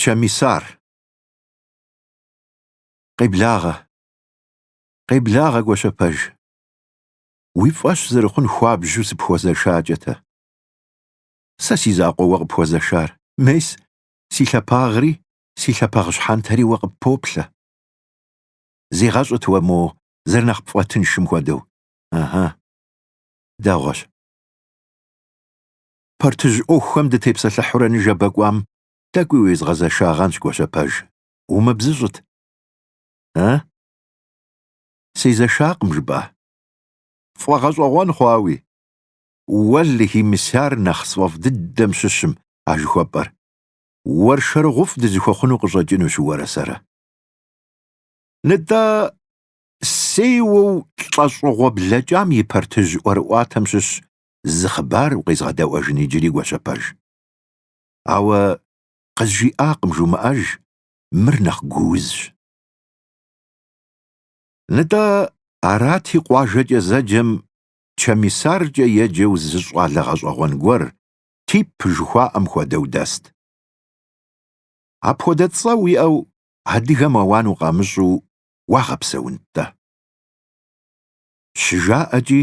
Чэмисар. Къеблагъэ. Къеблагъэ, Гуащэпэж. Уи фӏэщ зэрыхъун хуабжьу сыпхуэзэшакӏэ-тэ. Сэ си закъуэ уэ къыпхуэзэшар, мес, си лъапагъри, си лъапагъ щхьэнтэри уэ къыппоплъэ. Зегъэщӏыт уэ мо зэрынэхъ пфӏэтыншым хуэдэу. Ыхьы. Дэгъуэщ. Партыжь ӏуэхухэм дытепсэлъыхьурэ ныжэбэ кӏуам тӏэкӏуи уезгъэзэшагъэнщ, Гуащэпэж, умыбзыщӏыт. Э? Сезэшакъым жыпӏа? Фӏэгъэщӏэгъуэн хъуауи? Уэлэхьи, мис ар нэхъ сфӏэфӏ дыдэм щыщым а жыхуэпӏэр. Уэршэрыгъуфӏ дызыхуэхъуну къыщӏэкӏынущ уэрэ сэрэ. Нытӏэ, сеуэу лӏэщӏыгъуэ блэкӏам и партыжь ӏуэрыӏуатэм щыщ зы хъыбар укъезгъэдэӏуэжын иджыри, Гуащэпэж. Ауэ къызжиӏакъым жумыӏэж, мыр нэхъ гуузщ. Нтӏэ, арати къуажэкӏэ зэджэм Чэмисаркӏэ еджэу зы щӏалэ гъэщӏэгъуэн гуэр, тип жыхуаӏэм хуэдэу, дэст. Апхуэдэ цӏэ уиӏэу адыгэм ауан укъамыщӏу уагъэпсэунт-тӏэ. Щыжаӏэкӏи,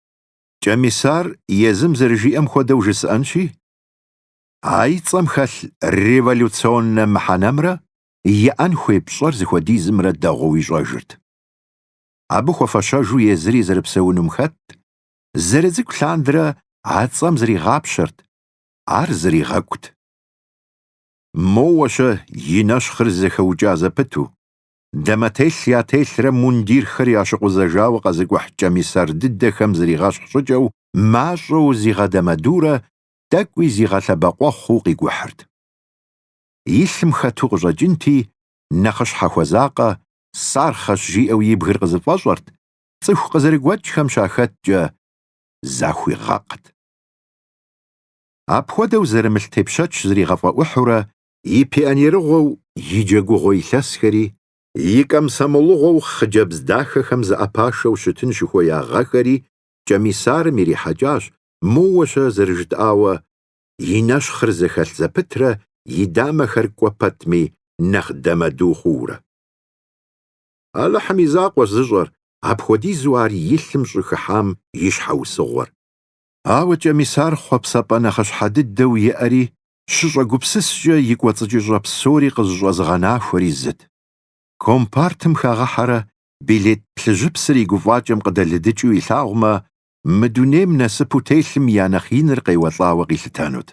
Кӏэмисар езым зэрыжиӏэм хуэдэу жысӏэнщи, а и цӏэм хэлъ революционнэ мыхьэнэмрэ иӏэн хуей пщӏэр зыхуэдизымрэ дэгъуэу ищӏэжырт. Абы хуэфэщэжу езыри зэрыпсэунум хэтт, зэрыцӏыкӏу лъандрэ а цӏэм зригъапщэрт, ар зригъэкӏут. Моуэ-щэ и нэщхъыр зэхэукӏа зэпыту, Дамэтелъ ятелърэ мундирхэр ящыкъузэжауэ къэзыкӏухь кӏэмисар дыдэхэм зригъэщхъ щӏыкӏэу, мащӏэу зигъэдэмэдурэ, тӏэкӏуи зигъэлъэбэкъуэхъуу къикӏухьырт. И лъым хэту къыщӏэкӏынти, нэхъыщхьэ хуэзакъэ, сархъэщ жиӏэу и бгыр къызэфӏэщӏэрт, цӏыху къызэрыгуэкӏхэм щахэткӏэ, захуигъэкът. Апхуэдэу зэрымылъ тепщэч зригъэфӏэӏухьурэ и пионерыгъуэу и джэгугъуэ илъэсхэри, и комсомолыгъуэу хъыджэбз дахэхэм зэӏэпашэу щытын щыхуея гъэхэри Кӏэмисарым ирихьэкӏащ, моуэ-щэ зэрыжытӏауэ, и нэщхъыр зэхэлъ зэпытрэ и дамэхэр кӏуэ пэтми нэхъ дэмэду хъуурэ. Алыхьым и закъуэщ зыщӏэр, апхуэдизу ар и лъым щӏыхыхьам и щхьэусыгъуэр. Ауэ Кӏэмисар хъуэпсапӏэ нэхъыщхьэ дыдэу иӏэри, щыщӏэгупсыскӏэ и кӏуэцӏыкӏыщӏэ псори къызыщӏэзыгъэнахуэри зыт. Компартым хагъэхьэрэ билет плъыжьыпсыр и гуфӏакӏэм къыдэлыдыкӏыу илъагъумэ, мы дунейм насыпу телъым я нэхъ иныр къеуэлӏауэ къилъытэнут.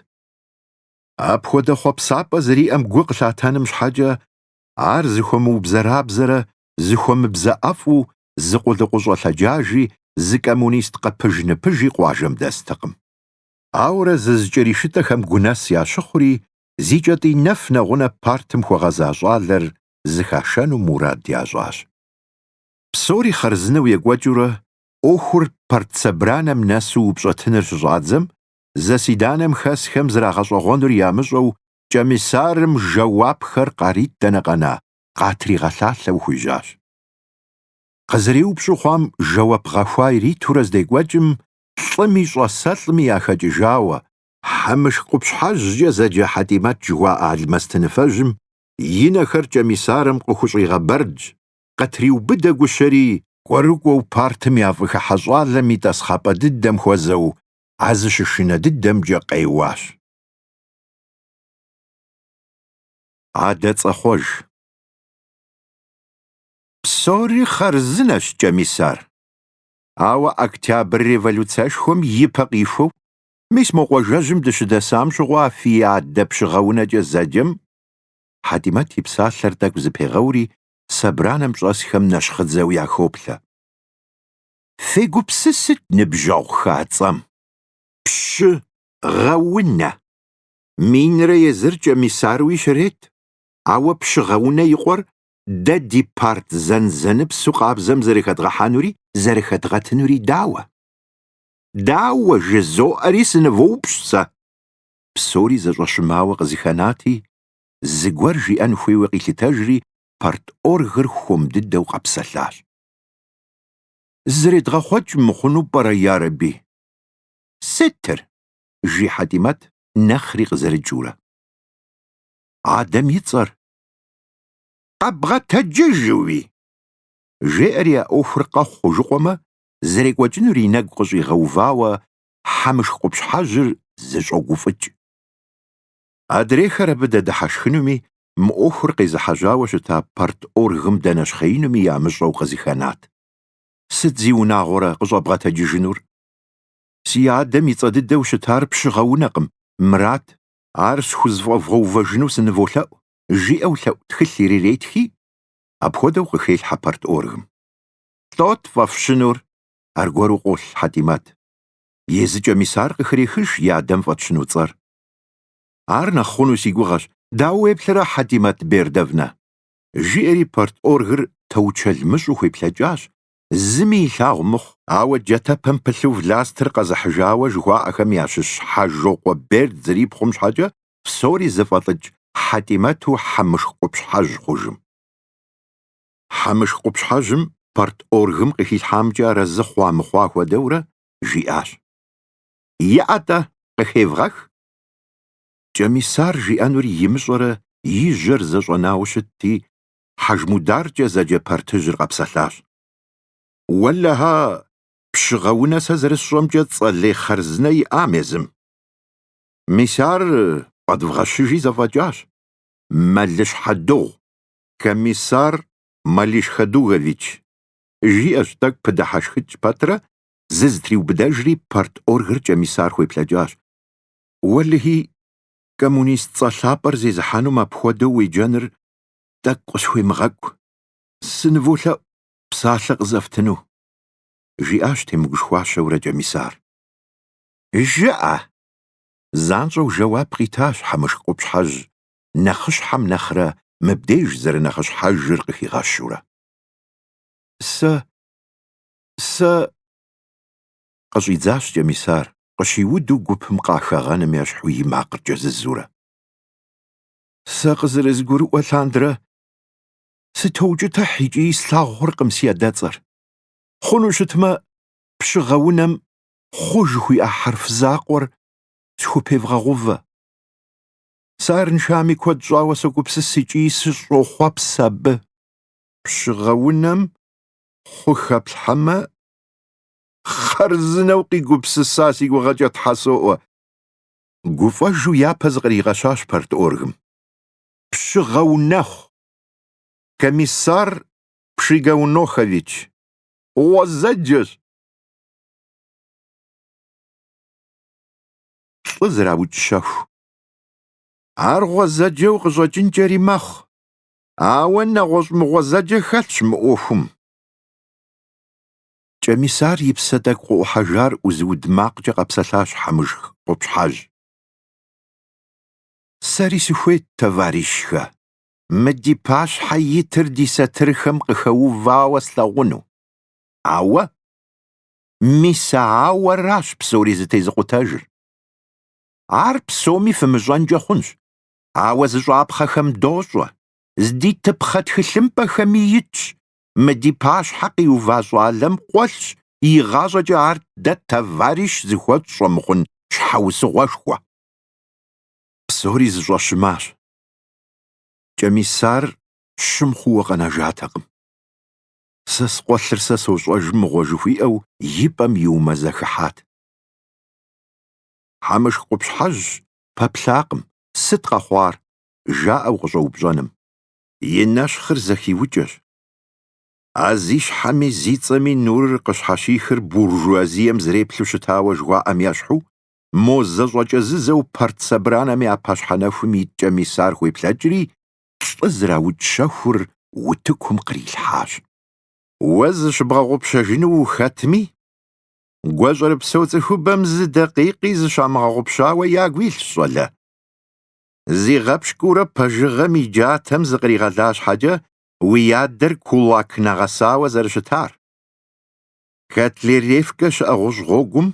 Апхуэдэ хъуэпсапӏэ зэриӏэм гу къылъатэным щхьэкӏэ, ар зыхуэмыубзэрабзэрэ зыхуэмыбзэӏэфӏу зы къулыкъущӏэ лъэджажи, зы коммунист къэпыж-ныпыжи къуажэм дэстэкъым. Ауэрэ зызыкӏэришытӏэхэм гунэс ящыхъури, зи кӏэтӏий нэф нэгъунэ партым хуэгъэза щӏалэр зыхашэну мурад ящӏащ. Псори хъарзынэу екӏуэкӏыурэ, ӏуэхур партсобранэм нэсу упщӏэтыныр щыщӏадзэм, заседанэм хэсхэм зрагъэщӏэгъуэнур ямыщӏэу Кӏэмисарым жэуапхэр къарит дэнэ къэна, къатригъэлъалъэу хуежьащ. Къызэреупщӏу хъуам жэуап гъэхуа иритурэ здекӏуэкӏым, лӏыми щӏэсэлӏми яхэкӏыжауэ, Хьэмышх къупщхьэжькӏэ зэджэ Хьэтимэт жыхуаӏэ алмэстыныфэжьым и нэхэр Кӏэмисарым къыхущӏигъэбэрдж, къытриубыдэ гущэри, кӏуэрыкӏуэу партым яфӏыхыхьэ щӏалэм и тӏасхъапӏэ дыдэм хуэзэу а зыщышынэ дыдэмкӏэ къеуащ. Адэцӏэхъуэж. Псори хъарзынэщ, Кӏэмисар. Ауэ Октябрь революцэшхуэм и пэ къихуэу, мис мо къуажэжьым дыщыдэсам щыгъуэ фи адэ Пщыгъэунэкӏэ зэджэм, Хьэтимэт и псалъэр тӏэкӏу зыпегъэури собранэм щӏэсхэм нэщхъыдзэу яхоплъэ. Фегупсысыт ныбжьэгъухэ, а цӏэм. Пщы гъэунэ. Минрэ езыр Кӏэмисаруи щрет, ауэ Пщыгъэунэ и къуэр Дэ ди парт зэнзэныпсу къабзэм зэрыхэдгъэхьэнури зэрыхэдгъэтынури дауэ? Дауэ жызоӏэри сынывоупщӏ сэ. Псори зэщӏэщымауэ къызыхэнати, зыгуэр жиӏэн хуейуэ къилъытэжри, парторгыр хуэм дыдэу къэпсэлъащ. Зэредгъэхъуэкӏ мыхъуну пӏэрэ, ярэби? Сытыр? жи Хьэтимэт нэхъри къызэрыкӏыурэ. Адэм и цӏэр. Къэбгъэтэджыжуи! жеӏэри а ӏуэхур къэхъу хъужыкъуэмэ, зэрекӏуэкӏынур и нэгу къыщӏигъэувауэ Хьэмышх къупщхьэжьыр зэщӏогуфӏыкӏ. Адрейхэр абы дэдыхьэшхынуми, мы ӏуэхур къезыхьэжьауэ щыта парторгым дэнэщхъеинуми ямыщӏэу къызыхэнат. Сыт зи унагъуэрэ къыщӏэбгъэтэджыжынур? Си адэм и цӏэ дыдэу щытар Пщыгъэунэкъым, Мырат. Ар схузэфӏэвгъэувэжыну сыныволъэӏу, жиӏэу лъэӏу тхылъ ириретхи, апхуэдэу къыхелъхьэ парторгым. Лӏот фӏэфщынур, аргуэру къолъ Хьэтӏимэт. Езы Кӏэмисар къыхрехыж и адэм фӏэтщыну цӏэр. Ар нэхъ хъуну си гугъэщ, дауэ уеплърэ, Хьэтӏимэт Бердовна? Жиӏэри парторгыр таучэл мыщӏу хуеплъэкӏащ, зыми илъагъу мыхъу. Ауэ джатэпэм пылъу властыр къэзыхьыжауэ жыхуаӏэхэм ящыщ Хьэжокъуэ Берд зэрипхъум щхьэкӏэ, псори зыфӏэлӏыкӏ Хьэтӏимэту Хьэмышх къупщхьэжь хъужым. Хьэмышх къупщхьэжьым парторгым къыхилъхьамкӏэ арэзы хъуа-мыхъуа хуэдэурэ жиӏащ. Иӏэ-тӏэ, къыхевгъэх! Кӏэмисар жиӏэнур имыщӏэрэ и жьэр зэщӏэнауэ щытти, Хьэжмударкӏэ зэджэ партыжьыр къэпсэлъащ. Уэлэхьэ, Пщыгъэунэ сэ зэрысщӏэмкӏэ цӏэлей хъарзынэ иӏам езым. Мис ар фӏэдвгъэщыжи зэфӏэкӏащ. Мэлыщхьэдыгъу, комиссар Малишхэдугович, жиӏэщ, тӏэкӏу пыдыхьэшхыкӏ пэтрэ зызытриубыдэжри парторгыр Кӏэмисар хуеплъэкӏащ. Уэлэхьи, коммунист цӏэ лъапӏэр зезыхьэнум апхуэдэу уеджэныр тӏэкӏу къысхуемыгъэкӏу. Сыныволъэӏу псалъэ къызэфтыну, жиӏащ темыгушхуащэурэ Кӏэмисар. Жыӏэ, Занщӏэу жэуап къитащ Хьэмышх къупщхьэжь, нэхъыщхьэм нэхърэ мыбдеж зэрынэхъыщхьэжыр къыхигъэщурэ. Сэ... сэ... къыщӏидзащ Кӏэмисар, къыщиуду гупым къахэгъэным ещхьу и макъыр кӏэзызурэ. Сэ къызэрызгурыӏуэ лъандэрэ сытоукӏытыхь икӏи слъагъу хъуркъым си адэцӏэр. Хъуну щытмэ, Пщыгъэунэм хъу жыхуиӏэ хьэрф закъуэр схупевгъэгъувэ. Сэ арыншами куэд щӏауэ согупсыс икӏи сыщӏохъуэпс абы. Пщыгъэунэм хъу хэплъхьэмэ, хъарзынэу къигупсыса си гугъэкӏэ Тхьэ соӏуэ! гуфӏэжу япэ зыкъригъэщащ парторгым. Пщыгъэунэхъу! Комиссар Пшигаунохович, гъуэзэджэщ! лӏы зэраукӏ щэху. Ар гъуэзэджэу къыщӏэкӏынкӏэри мэхъу, ауэ нэгъуэщӏ мыгъуэзэджэ хэлъщ мы ӏуэхум. Кӏэмисар и псэ тӏэкӏу къыӏухьэжар ӏузыуд макъкӏэ къэпсэлъащ Хьэмышх къупщхьэжь. Сэри сыхуейт, товарищхэ, мы ди пащхьэ итыр ди сатырхэм къыхэувауэ слъэгъуну, ауэ Мис ауэращ псори зэтезыкъутэжыр. Ар псоми фымыщӏэнкӏэ хъунщ, ауэ зыщӏапхъэхэм дощӏэ, зди тыпхъэ тхылъымпӏэхэми итщ, мы ди пащхьэ къиува щӏалэм къуэлъщ игъащӏэкӏэ ар дэ товарищ зыхуэтщӏ щӏэмыхъун щхьэусыгъуэшхуэ. Псори зэщӏэщымащ. Кӏэмисар щым хъууэ къэнэжатэкъым. Сэ скъуэлъыр сэ сощӏэж мыгъуэ жыхуиӏэу и пӏэм иумэзэхыхьат. Хьэмышх къупщхьэжь пэплъакъым, сыт къэхъуар? жаӏэу къыщӏэупщӏэным. И нэщхъыр зэхиукӏэщ. А зи щхьэми зи цӏэми нурыр къыщхьэщихыр буржуазием зэреплъу щытауэ жыхуаӏэм ещхьу, мо зэщӏэкӏэзызэу партсобранэм я пащхьэ нэхум ит Кӏэмисар хуеплъэкӏри, лӏы зэраукӏ щэхур утыкум кърилъхьащ. Уэ зыщыбгъэгъупщэжыну ухэтми, гуащӏэрыпсэу цӏыхубэм зы дакъикъи зыщамыгъэгъупщауэ ягу илъщ, щӏалэ. Зигъэпщкӏуурэ пэжыгъэм и джатэм зыкъригъэла щхьэкӏэ уи адэр кулак нэгъэсауэ зэрыщытар. Котляревкэ щыӏэ гъущӏ гъуэгум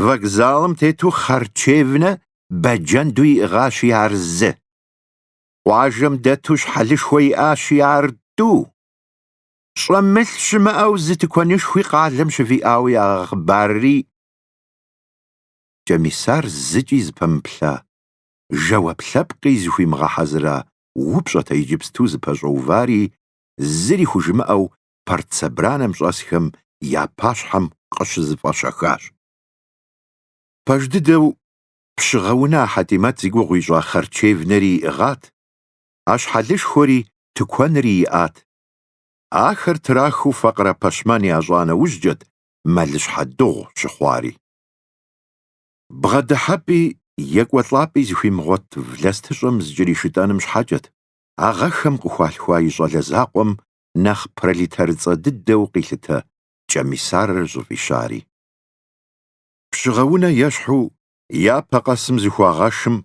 вокзалым тету харчевнэ бэджэнду иӏыгъащи, ар зы. Къуажэм дэту щхьэлышхуэ иӏащи, ар тӏу. Щӏэмылъ щымыӏэу зы тыкуэнышхуи къалэм щывиӏауэ ягъэхъыбарри, Кӏэмисар зыкӏи зыпэмыплъа, жэуап лъэпкъи зыхуимыгъэхьэзыра упщӏэт иджыпсту зыпэщӏэувари, зыри хужымыӏэу партсобранэм щӏэсхэм я пащхьэм къыщызэфӏэщэхащ. Пэж дыдэу Пщыгъэунэ а Хьэтимэт зи гугъу ищӏа харчевнэри иӏыгъат, а щхьэлышхуэри тыкуэнри иӏат. Ахэр трахыу факъырэ пэщмэн ящӏа нэужькӏэт мэлыщхьэ дыгъу щыхъуари. Бгъэдыхьэпӏи екӏуэлӏапӏи зыхуимыгъуэт властыщӏэм зыкӏэришытӏэным щхьэкӏэт а гъэхэм къыхуалъхуа и щӏалэ закъуэм нэхъ пролетарыцӏэ дыдэу къилъытэ Кӏэмисарыр щӏыфӏищари. Пщыгъэунэ ещхьу япэ къэсым зыхуагъэшым,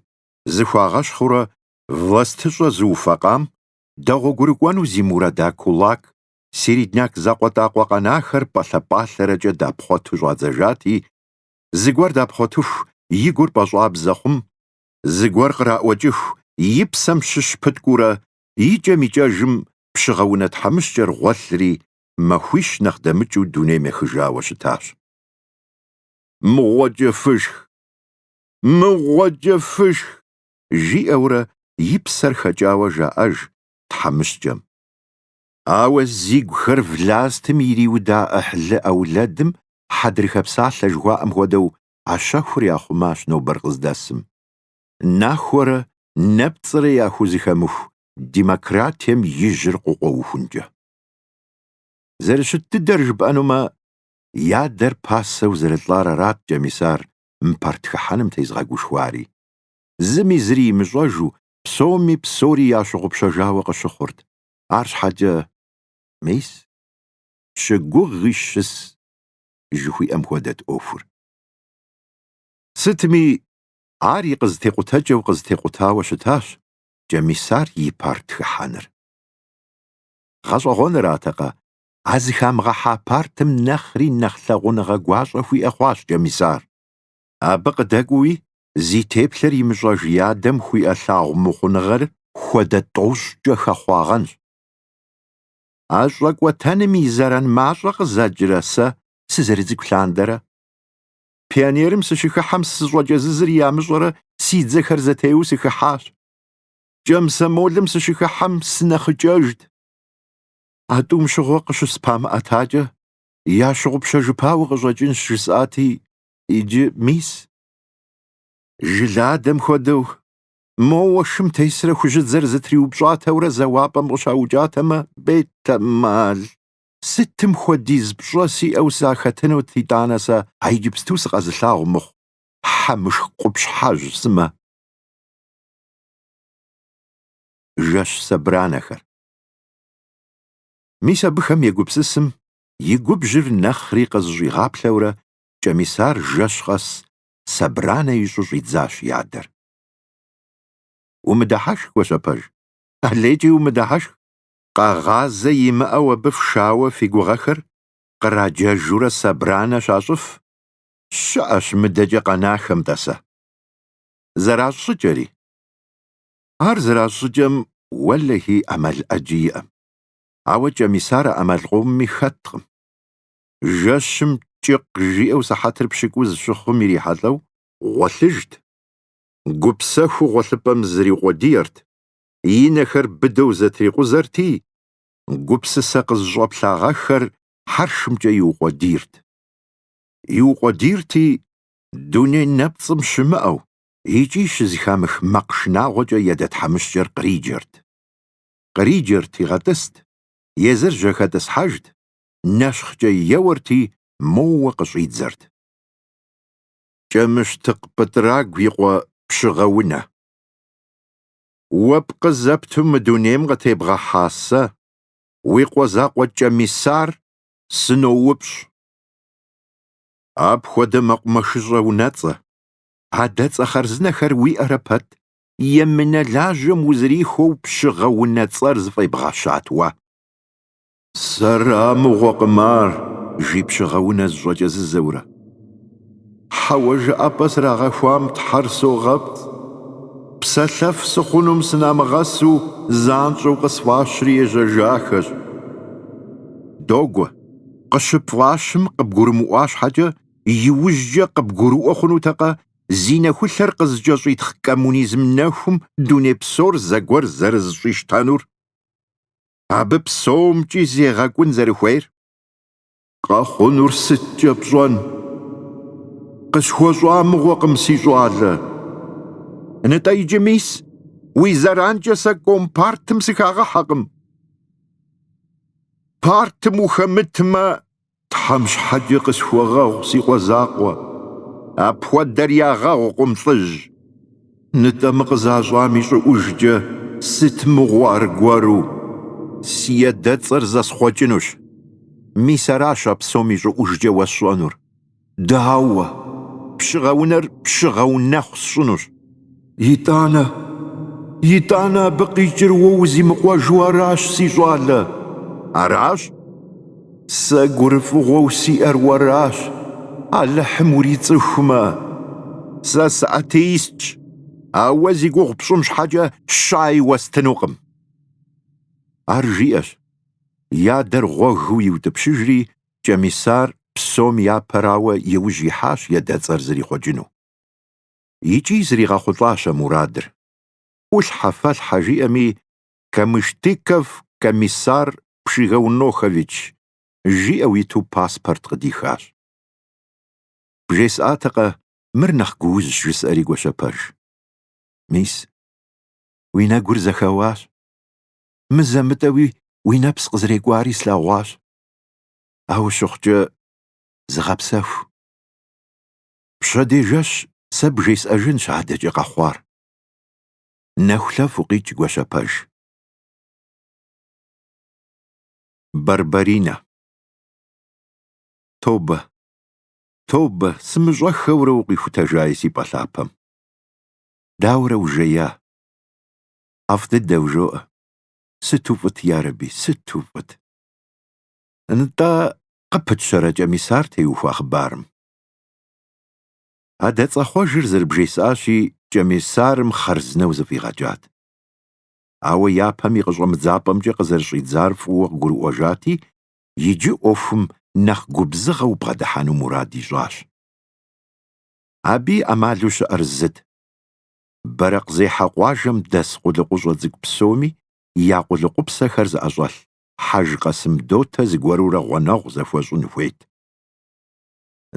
зыхуагъэщхъыурэ властыщӏэ зыуфэкъам, дэгъуэгурыкӏуэну зи мурада кулак, середняк закъуэтӏакъуэ къэнахэр пӏэлъэ-пӏалъэрэкӏэ дапхъуэту щӏадзэжати, зыгуэр дапхъуэтыху и гур пӏэщӏабзэ хъум, зыгуэр къраӏуэкӏыху и псэм щыщ пыткӏуурэ икӏэм-икӏэжым Пщыгъэунэ тхьэмыщкӏэр гъуэлъри, махуищ нэхъ дэмыкӏыу дунейм ехыжауэ щытащ. Мыгъуэкӏэ фышх! Мыгъуэкӏэ фышх! жиӏэурэ и псэр хэкӏауэ жаӏэж тхьэмыщкӏэм. Ауэ зи гухэр властым ириуда ӏыхьлы ӏэулэдым хьэдрыхэ псалъэ жыхуаӏэм хуэдэу а щэхур яхъумащ нобэр къыздэсым. Нахуэрэ нэпцӏрэ яхузэхэмыху демократием и жьыр къыкъуэухункӏэ. Зэрыщыт дыдэр жыпӏэнумэ, и адэр пасэу зэрылӏар арат Кӏэмисар мы парт хыхьэным тезыгъэгушхуари. Зыми зыри имыщӏэжу, псоми псори ящыгъупщэжауэ къыщыхъурт, арщхьэкӏэ, мис, щыгугъи щыс, жыхуиӏэм хуэдэт ӏуэхур. Сытми, ар и къызытекъутэкӏэу къызытекъутауэ щытащ Кӏэмисар и парт хыхьэныр. Гъэщӏэгъуэныратэкъэ, а зыхамыгъэхьа партым нэхъри нэхъ лъагъуныгъэ гуащӏэ хуиӏэ хъуащ Кӏэмисар. Абы къыдэкӏуэуи зи теплъэр имыщӏэж и адэм хуиӏэ лъагъумыхъуныгъэр хуэдэ тӏощӏкӏэ хэхъуагъэнщ. А щӏэкӏуэтэным и зэран мащӏэ къызэкӏрэ сэ сызэрыцӏыкӏу лъандэрэ? Пионерым сыщыхыхьэм сыщӏэкӏэзызыр ямыщӏэрэ си дзэхэр зэтеуэу сыхыхьащ. Кӏэмсэмолым сыщыхыхьэм сынэхъыкӏэжт. А тӏум щыгъуэ къыщыспамыӏэтакӏэ, ящыгъупщэжыпауэ къыщӏэкӏынщ, жысӏати, иджы, мис. Жыладэм хуэдэу, моуэ шым тесрэ хужьыдзэр зытриупщӏатэурэ зэуапӏэм къыщаукӏатэмэ, бетэмал, сытым хуэдиз пщӏэ сиӏэу сахэтынут, итӏанэ сэ а иджыпсту сыкъэзылъагъу мыхъу хьэмышх къупщхьэжь сымэ. Жэщ сэбранэхэр. Мис абыхэм егупсысым и губжьыр нэхъри къызыщӏигъаплъэурэ Кӏэмисар жэщ къэс сэбранэ ищӏу щӏидзащ и адэр. Умыдыхьэшх, Гуащэпэж, алейкӏи умыдыхьэшх, къэгъазэ имыӏэу абы фшауэ фи гугъэхэр къраджэжурэ сэбранэ щащӏыф щыӏэщ мыдэкӏэ къэнахэм, тӏасэ. Зэращӏ щӏыкӏэри. Ар зэращӏ щӏыкӏэм уэлэхьи ӏэмал ӏэджи иӏэм. Ауэ Кӏэмисар а ӏэмал къомми хэткъым. Жэщым кӏыкъ жиӏэу сыхьэтыр пщыкӏуз щыхъум ирихьэлӏэу, гъуэлъыжт. Гупсэхуу гъуэлъыпӏэм зриукъуэдиерт, и нэхэр быдэу зэтрикъузэрти, гупсысэ къызыщӏэплъагъэххэр хьэршымкӏэ иукъуэдийрт. Иукъуэдийрти, дуней нэпцӏым щымыӏэу, икӏи щызэхамых мэкъ шынагъуэкӏэ едэ тхьэмыщкӏэр къриджэрт. Къриджэрт, игъэтӏыст, езыр жьэхэтӏысхьэжт, нэщхъкӏэ еуэрти, моуэ къыщӏидзэрт. Кӏэмыщтыкъ Пӏытӏрагу и къуэ Пщыгъэунэ. Уэ пкъы зэпту мы дунейм къытебгъэхьа сэ, уи къуэ закъуэ Кӏэмисар, сыноупщӏ. Апхуэдэ мэкъумэшыщӏэ унэцӏэ, адэцӏэ хъарзынэхэр уиӏэрэ пэт, емынэ лажьэм узэрихуэу Пщыгъэунэ цӏэр зыфӏебгъэщат уэ. Сэра мыгъуэкъым ар, жи Пщыгъэунэ зыщӏэкӏэзызэурэ. Хьэуэ, жыӏэпӏэ срагъэхуам Тхьэр согъэпцӏ. Псэлъэф сыхъунум сынамыгъэсу занщӏэу къысфӏащри ежьэжахэщ. Догуэ, къыщыпфӏащым къыбгурымыӏуа щхьэкӏэ, иужькӏэ къыбгурыӏуэ хъунутэкъэ зи нэхулъэр къызэкӏэщӏитхъ коммунизм нэхум дуней псор зэгуэр зэрызыщӏищтэнур, абы псомкӏи зегъэкӏун зэрыхуейр? Къэхъунур сыткӏэ пщӏэн? Къысхуэщӏа мыгъуэкъым, си щӏалэ. Нытӏэ иджы мис уи зэранкӏэ сэ компартым сыхагъэхьэкъым. Партым ухэмытмэ, Тхьэм щхьэкӏэ къысхуэгъэгъу, си къуэ закъуэ. Апхуэдэр ягъэгъукъым, лӏыжь. Нытӏэ мы къызащӏам и щӏыӏужкӏэ сыт мыгъуэ аргуэру? Си едэцӏэр зэсхъуэкӏынущ. Мис аращ а псом и щӏыӏужкӏэ уэсщӏэнур. Дауэ? Пщыгъэунэр Пщыгъэунэхъу сщӏынущ. Итӏанэ, итӏанэ абы къикӏыр уэ узимыкъуэжу аращ, си щӏалэ. Аращ? Сэ гурыфӏыгъуэу сиӏэр уэращ, Алыхьым урицӏыхумэ. Сэ сыатеистщ, ауэ зи гугъу пщӏым щхьэкӏэ щай уэстынукъым. Ар жиӏэщ, и адэр гъуэгыу иутӏыпщыжри, Кӏэмисар псом япэрауэ и ужь ихьащ едэцӏэр зэрихъуэкӏыну. Икӏи зригъэхъулӏащ а мурадыр. ӏулъхьэ-фэлъхьэ жиӏэми, Камыштыков Комиссар Пшигаунохович жиӏэу иту паспорт къыдихащ. Бжесӏатэкъэ, мыр нэхъ гуузщ, жысӏэри Гуащэпэж. Мис, уи нэгур зэхэуащ. Мызэ-мытӏэуи уи нэпс къызэрекӏуари слъэгъуащ. Ауэ щыхъукӏэ, зыгъэпсэху. Пщэдей жэщ сэ бжесӏэжынщ адэкӏэ къэхъуар. Нэхулъэф укъикӏ Гуащэпэж. Барбаринэ. Тобэ, тобэ, сымыщӏэххэурэ укъихутэжаи си пӏэ лъапэм. Дауэрэ ужея? ӏэфӏ дыдэу жоӏэ. Сыту фӏыт, ярэби, сыту фӏыт. Нтӏэ, къыпытщэрэ Кӏэмисар теухуа хъыбарым? Адэцӏэхъуэжыр зэрыбжесӏащи, Кӏэмисарым хъарзынэу зэфӏигъэкӏат. Ауэ япэм и къыщӏэмыдзапӏэмкӏэ къызэрыщӏидзар фӏыуэ къыгурыӏуэжати, иджы ӏуэхум нэхъ губзыгъэу бгъэдыхьэну мурад ищӏащ. Абы и ӏэмалу щыӏэр зыт, Бэрэкъзехьэ къуажэм дэс къулыкъущӏэ цӏыкӏу псоми я къулыкъупсэхэр зыӏэщӏэлъ Хьэж Къасым дотэ зыгуэрурэ гъуэнэгъу зыхуэщӏын хуейт.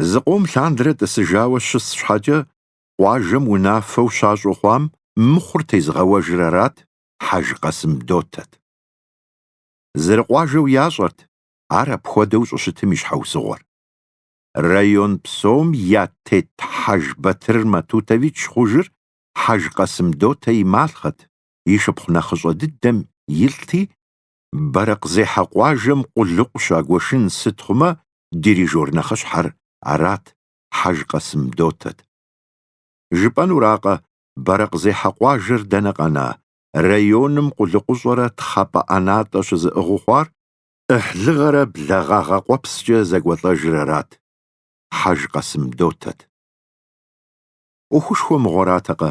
Зы къом лъандэрэ тӏысыжауэ щыс щхьэкӏэ, къуажэм унафэу щащӏу хъуам мыхъур тезыгъэуэжыр арат, Хьэж Къасым дотэт. Зэрыкъуажэу ящӏэрт ар апхуэдэу щӏыщытым и щхьэусыгъуэр. Район псом я тет Хьэж Батыр Матутович хъужыр Хьэж Къасымдотэ и малхъэт, и шыпхъу нэхъыщӏэ дыдэм и лӏыти, Бэрэкъзехьэ къуажэм къулыкъу щагуэшын сыт хъумэ, дирижёр нэхъыщхьэр арат, Хьэж Къасым дотэт. Жыпӏэнуракъэ, Бэрэкъзехьэ къуажэр дэнэ къэна, районым къулыкъущӏэрэ тхъапӏэ ӏэнатӏэ щызыӏыгъыу хъуар, ӏыхьлыгъэрэ благъагъэ къуэпскӏэ зэкӏуэлӏэжыр арат, Хьэж Къасым дотэт. ӏуэхушхуэ мыгъуэратэкъэ,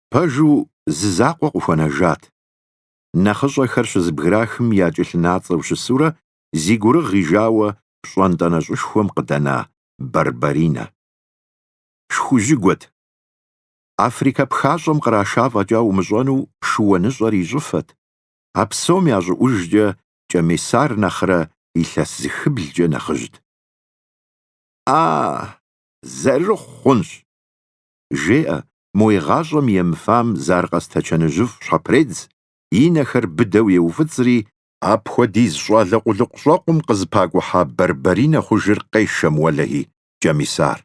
Пэжу, зы закъуэ къыхуэнэжат. Нэхъыщӏэхэр щызэбграхым я кӏэлъынацӏэу щысурэ зи гурыгъ ижауэ пщӏантӏэ нэщӏышхуэм къыдэна Барбаринэ. Шхужьыгуэт. Африкэ пхащӏэм къраша фӏэкӏа умыщӏэну шыуаныщӏэр и щӏыфэт, а псом ящӏыӏужкӏэ Кӏэмисар нэхърэ илъэс зы хыблкӏэ нэхъыжьт. А, зэрыхъу хъунщ. жеӏэ, мо игъащӏэм емыфам зы аркъэ стэчаныжьыфӏ щхьэпредз, и нэхэр быдэу еуфӏыцӏри, апхуэдиз щӏалэ къулыкъущӏэ къом къызыпакӏухьа Барбаринэ хъужыр къешэм уэлэхьи, Кӏэмисар.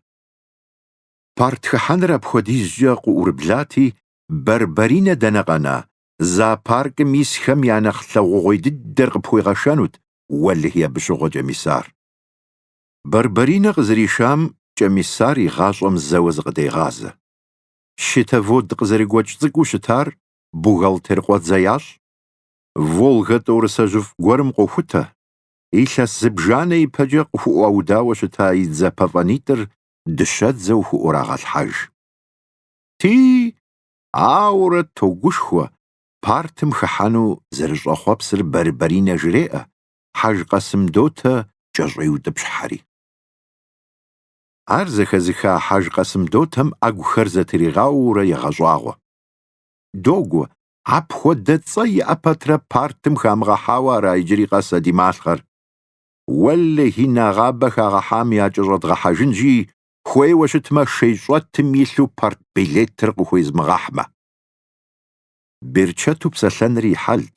Партхыхьэныр апхуэдизкӏэ къыӏурыблати, Барбаринэ дэнэ къэна, зоопаркым исхэм я нэхъ лъагъугъуей дыдэр къыпхуигъэшэнут, уэлэхьи абы щыгъуэ Кӏэмисар. Барбаринэ къызэришам Кӏэмисар и гъащӏэм зэуэ зыкъыдегъазэ. Щитовод къызэрыгуэкӏ цӏыкӏуу щытар бухгалтер къуэдзэ ящӏ, Волгэ тӏорысэжьыфӏ гуэрым къохутэ, илъэс зыбжанэ ипэкӏэ къыхуӏуаудауэ щыта и дзэ пэфӏэнитӏыр дыщэдзэу хуӏурагъэлъхьэж. Ти, ауэрэ, тогушхуэ, партым хыхьэну зэрыщӏэхъуэпсыр Барбаринэ жреӏэ, Хьэж Къэсым Дотэ кӏэщӏеутӏыпщхьэри. Ар зэхэзыха Хьэж Къэсым Дотэм ӏэгухэр зэтригъауэурэ егъэщӏагъуэ. Догуэ, апхуэдэ цӏэ иӏэ пэтрэ партым хамыгъэхьауэ ара иджыри къэс а ди малъхъэр? Уэлэхьи, нэгъабэ хагъэхьам якӏэщӏэдгъэхьэжынщи, хуейуэ щытмэ, шейщӏэтым илъу партбилетыр къыхуезмыгъэхьмэ. Берчэту псэлъэныр и хьэлт.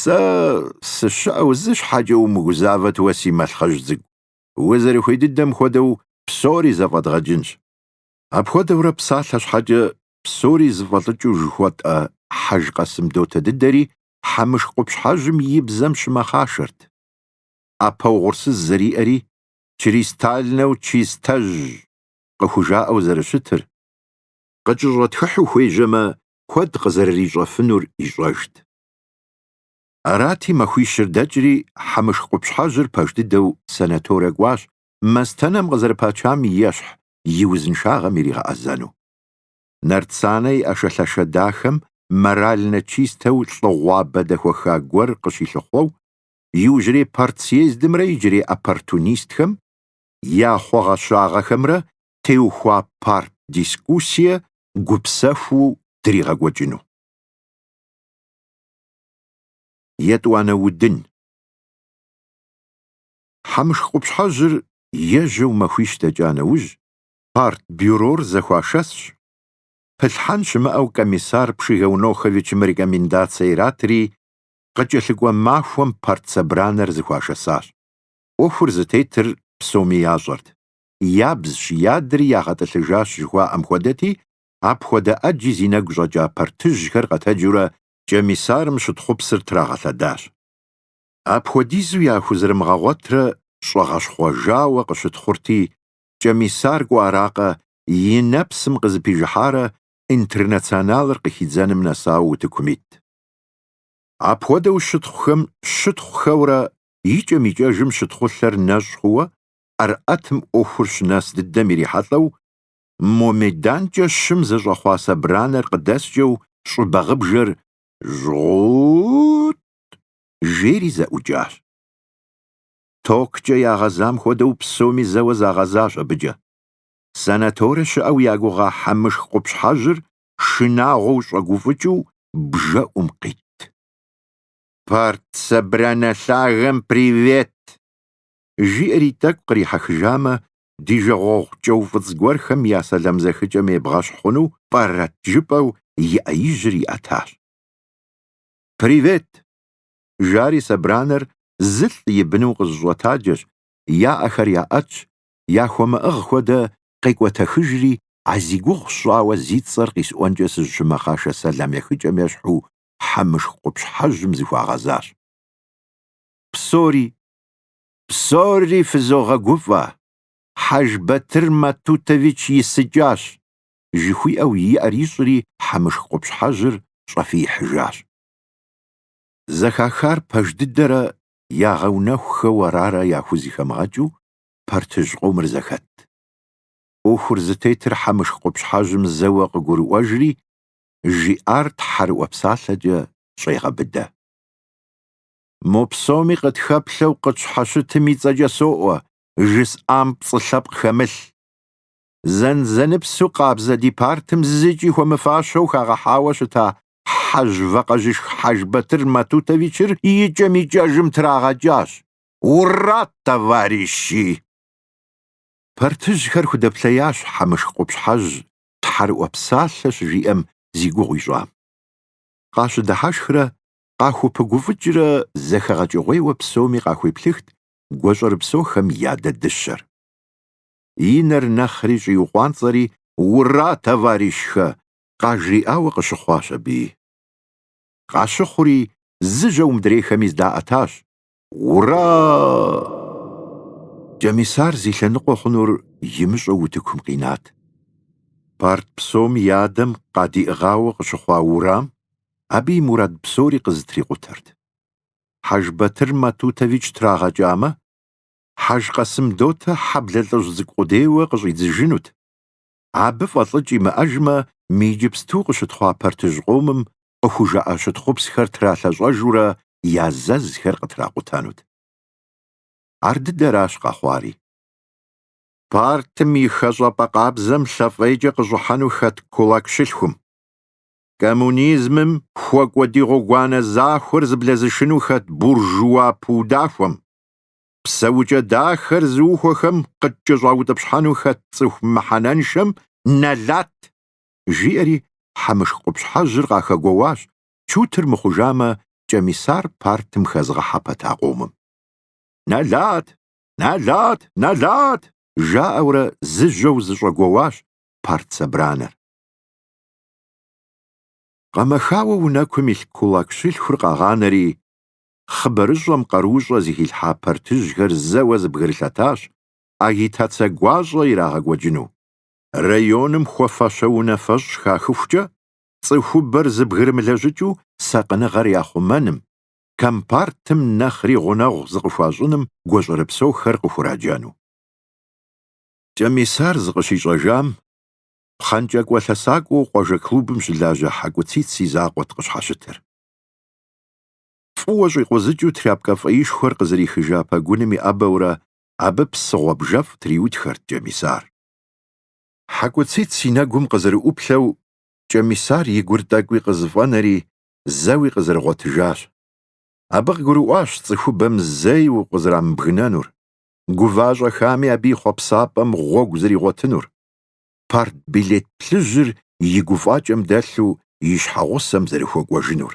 Сэ сыщыӏэу зы щхьэкӏэ умыгузавэт уэ си малъхъэжь цӏыкӏу, узэрыхуей дыдэм хуэдэу псори зэфӏэдгъэкӏынщ. Апхуэдэурэ псалъэ щхьэкӏэ псори зыфӏэлӏыкӏыу жыхуэтӏэ Хьэж Къэсым Дотэ дыдэри Хьэмышх къупщхьэжьым и бзэм щымэхъашэрт. ӏэпэ угъурсыз зэриӏэри чристальнэу чистэжь къыхужаӏэу зэрыщытыр, къыкӏэщӏэтхыхьу хуежьэмэ куэд къызэрырищӏэфынур ищӏэжт. Арати, махуищыр дэкӏри, Хьэмышх къупщхьэжьыр пэж дыдэу санаторэ кӏуащ, мастэнэм къызэрыпачам ещхь, и узыншагъэм иригъэӏэзэну. Нарцанэ и ӏэшэлъэшэ дахэм морально чистэу лӏыгъуабэ дэхуэха гуэр къыщилъыхъуэу, иужьрей партсъездымрэ иджырей оппортунистхэм я хъуэгъэщагъэхэмрэ теухуа парт-дискуссие гупсэхуу дригъэкӏуэкӏыну. Етӏуанэ удын. Хьэмышх къупщхьэжьыр ежьэу махуищ дэкӏа нэужь, партбюрор зэхуашэсщ. Пылъхьэн щымыӏэу Комиссар Пшигэуноховичым рекомендацие иратри, къыкӏэлъыкӏуэ махуэм партсобранэр зыхуашэсащ. ӏуэхур зытетыр псоми ящӏэрт. Ябзщ, ядри ягъэтӏылъыжащ жыхуаӏэм хуэдэти, апхуэдэ ӏэджи зи нэгу щӏэкӏа партыжьхэр къэтэджыурэ Кӏэмисарым щытхъупсыр трагъэлъэдащ. Апхуэдизу яхузэрымыгъэгъуэтрэ щӏэгъэщхъуэжауэ къыщытхъурти, Кӏэмисар кӏуэ аракъэ, и нэпсым къызыпижыхьарэ Интернационалыр къыхидзэным нэсауэ утыкум ит. Апхуэдэу щытхъухэм щытхъухэурэ икӏэм-икӏэжым щытхъулъэр нэщӏ хъууэ ӏэрыӏэтым ӏуэхур щынэс дыдэм ирихьэлӏэу мо меданкӏэ щым зэщӏэхъуа собранэр къыдэскӏэу щӏыбагъыбжэр жьгъу-у-у-ут! жери зэӏукӏащ. Токкӏэ ягъэзам хуэдэу псоми зэуэ загъэзащ абыкӏэ. Санаторэ щыӏэу я гугъа хьэмышх къупщхьэжьыр шынагъуэу щӏэгуфӏыкӏыу бжэӏум къитт. Парт собранэ лъагэм привет! жиӏэри тӏэкӏу кърихьэхыжамэ, ди жагъуэгъу кӏэуфӏыцӏ гуэрхэм я сэлам зэхыкӏэм ебгъэщхь хъуну пӏэрэт жыпӏэу и ӏэижьыр иӏэтащ. Привет! жари собранэр зылӏ и быну къызыщӏэтаджэщ, я ӏэхэр яӏэтщ, яхуэмыӏыгъ хуэдэ къекӏуэтэхыжри, а зи гугъу сщӏауэ зи цӏэр къисӏуэнкӏэ сызыщымэхъашэ сэлам ехыкӏэм ещхьу Хьэмышх къупщхьэжьым зыхуагъэзащ. Псори фызогъэгуфӏэ, Хьэжбатыр Матутович исыкӏащ, жыхуиӏэу и ӏэр ищӏри Хьэмышх къупщхьэжьыр щӏэфиихьыжащ. Зэхахар пэж дыдэрэ ягъэунэхухэу арарэ яхузыхэмыгъэкӏыу партыжь къомыр зэхэтт. ӏуэхур зытетыр Хьэмышх къупщхьэжьым зэуэ къыгурыӏуэжри, жиӏар тхьэрыӏуэ псалъэкӏэ щӏегъэбыдэ. Мо псоми къытхэплъэу къытщхьэщытым и цӏэкӏэ соӏуэ, жысӏам пцӏы лъэпкъ хэмылъ. Зэнзэныпсу къабзэ ди партым зыкӏи хуэмыфащэу хагъэхьауэ щыта хьэжь вакъэжьышх Хьэжбатыр Матутовичыр икӏэм-икӏэжым трагъэкӏащ. Ура, товарищи! Партыжьхэр худэплъеящ Хьэмышх къупщхьэжь тхьэрыӏуэ псалъэ щыжиӏэм зи гугъу ищӏам. Къащыдыхьэшхрэ къахупыгуфӏыкӏрэ зэхэгъэкӏыгъуейуэ псоми къахуеплъыхт гуащӏэрыпсохэм я адэ дыщэр. И нэр нэхъри щӏиукъуанцӏэри Ура, товарищхэ! къажриӏауэ къыщыхъуащ абыи. Къащыхъури, зыжьэу мыдрейхэми здаӏэтащ, Ура! Кӏэмисар зи лъэныкъуэ хъунур имыщӏэу утыкум къинат. Парт псом и адэм къадиӏыгъауэ къыщыхъуа Урам абы и мурад псори къызытрикъутэрт. Хьэжбатыр Матутович трагъэкӏамэ, Хьэжкъасым дотэ хьэблэ лӏыжь цӏыкӏу къудейуэ къыщӏидзыжынут. Абы фӏэлӏыкӏ имыӏэжмэ, мы иджыпсту къыщытхъуа партыжь къомым къыхужаӏэ щытхъупсхэр тралъэщӏэжурэ я зэзхэр къытракъутэнут. Ар дыдэращ къэхъуари. Партым и хэщӏапӏэ къабзэм лъэфӏейкӏэ къыщӏыхьэну хэт кулак щылъхум, коммунизмым хуэкӏуэ ди гъуэгуанэ захуэр зыблэзышыну хэт буржуа пыудахуэм, псэукӏэ дахэр зыухуэхэм къыткӏэщӏаутӏыпщхьэну хэт цӏыху мыхьэнэншэм нэлат, жиӏэри Хьэмышх къупщхьэжьыр къахэгуэуащ, чутыр мыхъужамэ, Кӏэмисар партым хэзгъэхьэ пэта къомым. Нэлат! Нэлат! Нэлат! жаӏэурэ зыжьэу зыщӏэгуэуащ парт собранэр. Къэмэхауэ унэкум илъ кулак щылъхур къагъанэри, хъыбарыщӏэм къаруущӏэ зыхилъхьа партыжьхэр зэуэ зэбгрылъэтащ агитацэ гуащӏэ ирагъэкӏуэкӏыну. Районым хуэфащэ унафэщӏ хахыхукӏэ цӏыхубэр зэбгрымылэжьыкӏыу сакъыныгъэр яхъумэным, компартым нэхъри гъунэгъу зыкъыхуащӏыным гуащӏэрыпсэухэр къыхураджэну. Кӏэмисар зыкъыщищӏэжам, пхъэнкӏакӏуэ лъэсакӏуэу къуажэ клубым щылажьэ Хьэкӏуцыц и закъуэт къыщхьэщытыр. Фӏыуэ щӏикъузыкӏыу тряпкэ фӏэишхуэр къызэрихыжа пэгуным иӏэбэурэ абы псы гъуэбжэфӏ триутхэрт Кӏэмисар. Хьэкӏуцыц и нэгум къызэрыӏуплъэу, Кӏэмисар и гур тӏэкӏуи къызэфӏэнэри, зэуи къызэрыгъуэтыжащ. Абы къыгурыӏуащ цӏыхубэм зэи укъызэрамыбгынэнур, гува-щӏэхами абы и хъуэпсапӏэм гъуэгу зэригъуэтынур. Партбилет плъыжьыр и гуфӏакӏэм дэлъу и щхьэгъусэм зэрыхуэкӏуэжынур.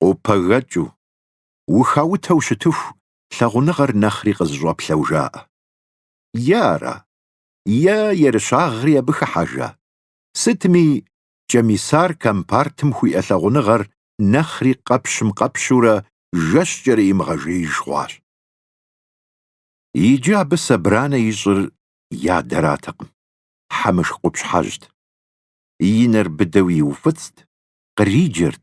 къопэгэкӏыу, ухаутэу щытыху лъагъуныгъэр нэхъри къызыщӏэплъэу жаӏэ. Е ара, е ерыщагъри абы хыхьэжа? Сытми, Кӏэмисар компартым хуиӏэ лъагъуныгъэр нэхъри къэпщым къэпщурэ жэщкӏэрэ имыгъэжеиж хъуащ. Иджы абы собранэ ищӏыр и адэратэкъым, Хьэмышх къупщхьэжьт. И нэр быдэу иуфӏыцӏт, къриджэрт,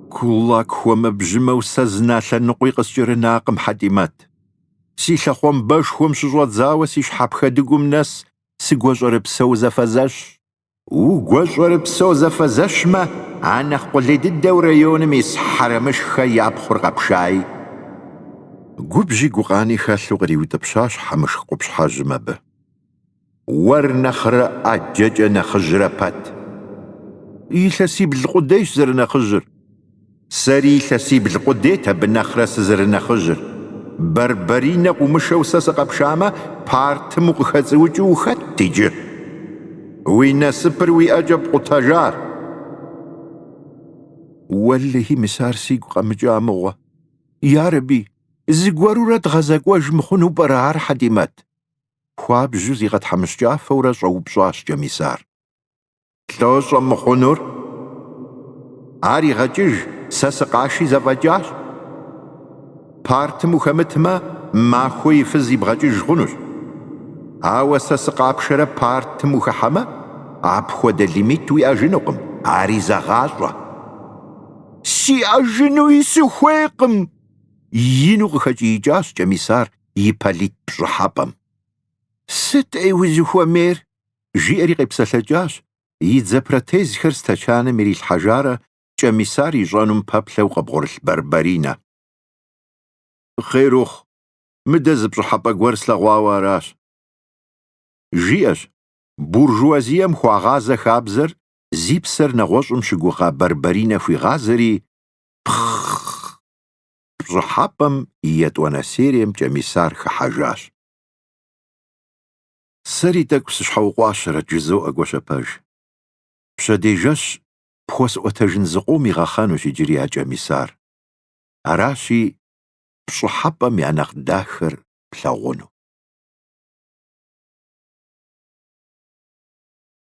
Кулак хуэмэбжьымэу сэ зы налъэ ныкъуи къыскӏэрынакъым, Хьэтӏимэт. Си лъэхъуамбэшхуэм щыщӏэдзауэ си щхьэпхэтӏыгум нэс сыгуащӏэрыпсэу зэфэзэщ. Угуащӏэрыпсэу зэфэзэщмэ, а нэхъ къулей дыдэу районым ис Хьэрэмышхэ я пхъур къэпшаи? Губжьи гукъани хэлъу къриутӏыпщащ Хьэмышх къупщхьэжьым абы. Уэр нэхърэ ӏэджэкӏэ нэхъыжьрэ пэт? Илъэсибл къудейщ зэрынэхъыжьыр. Сэри илъэсибл къудейт абы нэхърэ сызэрынэхъыжьыр. Барбаринэ къыумышэу сэ сыкъэпшамэ, партым укъыхэцӏыукӏыу ухэтт иджы? Уи насыпыр уи ӏэкӏэ пкъутэжар. Уэлэхьи, мис ар сигу къэмыкӏа мыгъуэ. Ярэби, зыгуэрурэ дгъэзэкӏуэж мыхъуну пӏэрэ ар, Хьэтӏимэт? Хуабжьу зигъэтхьэмыщкӏафэурэ щӏэупщӏащ Кӏэмисар. Лӏо щӏэмыхъунур? Ар игъэкӏыж, сэ сыкъаши зэфӏэкӏащ. Партым ухэмытмэ, махуэ и фыз ибгъэкӏыж хъунущ. Ауэ сэ сыкъапшэрэ партым ухыхьэмэ, апхуэдэ лимит уиӏэжынукъым, ари зэгъащӏэ. Сиӏэжынуи сыхуейкъым! ину къыхэкӏиикӏащ Кӏэмисар и полит пщӏыхьэпӏэм. Сыт, ӏей, узыхуэмейр? жиӏэри къепсэлъэкӏащ, и дзэ протезхэр стэчаным ирилъхьэжарэ Кӏэмисар ищӏэнум пэплъэу къыбгъурылъ Барбаринэ. Хъер ухъу, мыдэ зы пщӏыхьэпӏэ гуэр слъэгъуауэ аращ. Жиӏэщ, буржуазием хуагъазэ хабзэр зи псэр нэгъуэщӏым щыгугъа Барбаринэ хуигъазэри, Пхъ-хъ-хъ! Пщӏыхьэпӏэм и етӏуанэ серием Кӏэмисар хыхьэжащ. Сэри тӏэкӏу сыщхьэукъуащэрэт, жызоӏэ Гуащэпэж. Пщэдей жэщ пхуэсӏуэтэжын зы къом игъэхъэнущ иджыри а Кӏэмисар. Аращи, Пщӏыхьэпӏэм я нэхъ дахэр плъагъуну.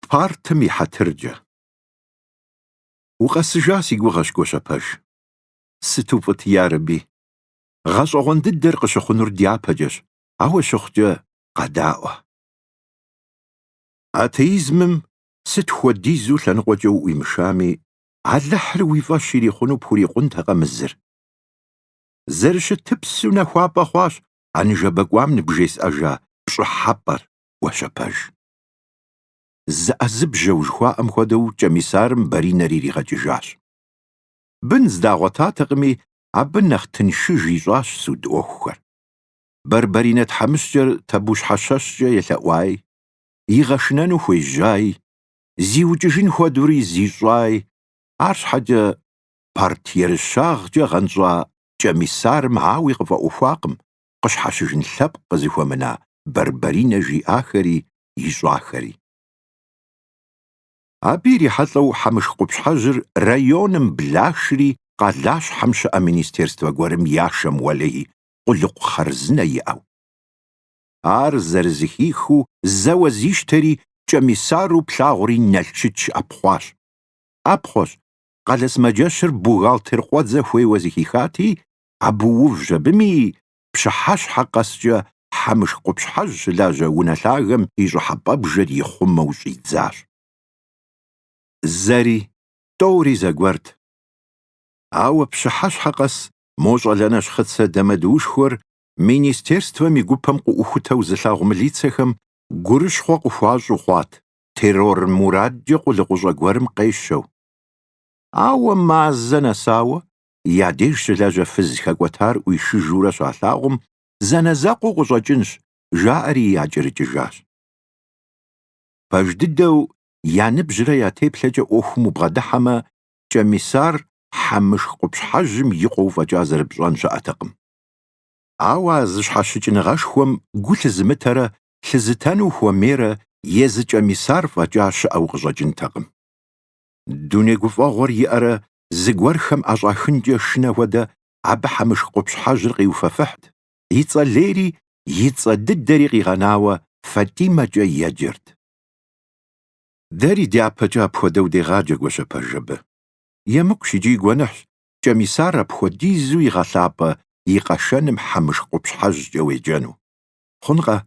Партым и хьэтыркӏэ. Укъэсыжа си гугъэщ, Гуащэпэж. Сыту фӏыт, ярэби! Гъэщӏэгъуэн дыдэр къыщыхъунур дяпэкӏэщ, ауэ щыхъукӏэ, къэдаӏуэ. Атеизмым сыт хуэдизу лъэныкъуэкӏэ уӏуимышами, Алыхьыр уи фӏэщ ирихъуну пхурикъунтэкъэ мы зыр? Зэрыщытыпсу нэхуапӏэ хъуащ а ныжэбэ кӏуам ныбжесӏэжа пщӏыхьэпӏэр, Гуащэпэж. Зыӏэзыбжьэу жыхуаӏэм хуэдэу кӏэмисарым Баринэр иригъэкӏыжащ. Бын здагъуэтатэкъыми, абы нэхъ тыншыж ищӏащ суд ӏуэхухэр. Барбаринэ тхьэмыщкӏэр Табущхьэщэщкӏэ елъэӏуай, игъэшынэну хуежьай, зиукӏыжын хуэдэури зищӏай, арщхьэкӏэ парт ерыщагъкӏэ гъэнщӏа кӏэмисарым ауи къыфӏэӏуэхуакъым къыщхьэщыжын лъэпкъ къызыхуэмына Барбаринэ жиӏахэри ищӏахэри. Абы ирихьэлӏэу Хьэмыш къупщхьэжьыр районым блашри къалащхьэм щыӏэ министерствэ гуэрым яшэм уэлей къулыкъу хъарзынэ иӏэу. Ар зэрызыхихыу зэуэ зищтэри кӏэмисару плъагъури Налшыч ӏэпхъуащ. ӏэпхъуэщ, къалэ сымаджэщыр бухгалтер къуэдзэ хуейуэ зыхихати, абы увщ абыми, пщыхьэщхьэ къэскӏэ Хьэмышх къупщхьэжь щылажьэ унэ лъагэм и щӏыхьэпӏэбжэр ихъумэу щӏидзащ. Зэри, тӏэури зэгуэрт. Ауэ пщыхьэщхьэ къэс мо щӏалэ нэщхъыцэ дамэдуушхуэр министерствэм и гупэм къыӏухутэу зылъагъу мылицэхэм гурыщхъуэ къыхуащӏу хъуат, террор мурадкӏэ къулыкъущӏэ гуэрым къещэу. Ауэ мазэ нэсауэ я деж щылажьэ фыз хэкӏуэтар ӏуишыжурэ щалъагъум, зэанэзэкъуэу къыщӏэкӏынщ, жаӏэри якӏэрыкӏыжащ. Пэж дыдэу я ныбжьрэ я теплъэкӏэ ӏуэхум убгъэдыхьэмэ, Кӏэмисар Хьэмышх къупщхьэжьым и къуэу фӏэкӏа зэрыпщӏэн щыӏэтэкъым. Ауэ а зэщхьэщыкӏыныгъэшхуэм гу лъызымытэрэ лъызытэну хуэмейрэ езы Кӏэмисар фӏэкӏа щыӏэу къыщӏэкӏынтэкъым. Дуней гуфӏэгъуэр иӏэрэ зыгуэрхэм ӏэщӏахынкӏэ шынэ хуэдэ абы Хьэмышх къупщхьэжьыр къиуфэфыхьт, и цӏэ лейри и цӏэ дыдэри къигъэнауэ Фатӏимэкӏэ еджэрт. Дэри дяпэкӏэ апхуэдэу дегъаджэ Гуащэпэж абы. Емыкӏущ икӏи гуэныхьщ Кӏэмисар апхуэдизу игъэлъапӏэ и къэшэным Хьэмышх къупщхьэжькӏэ уеджэну. Хъункъэ?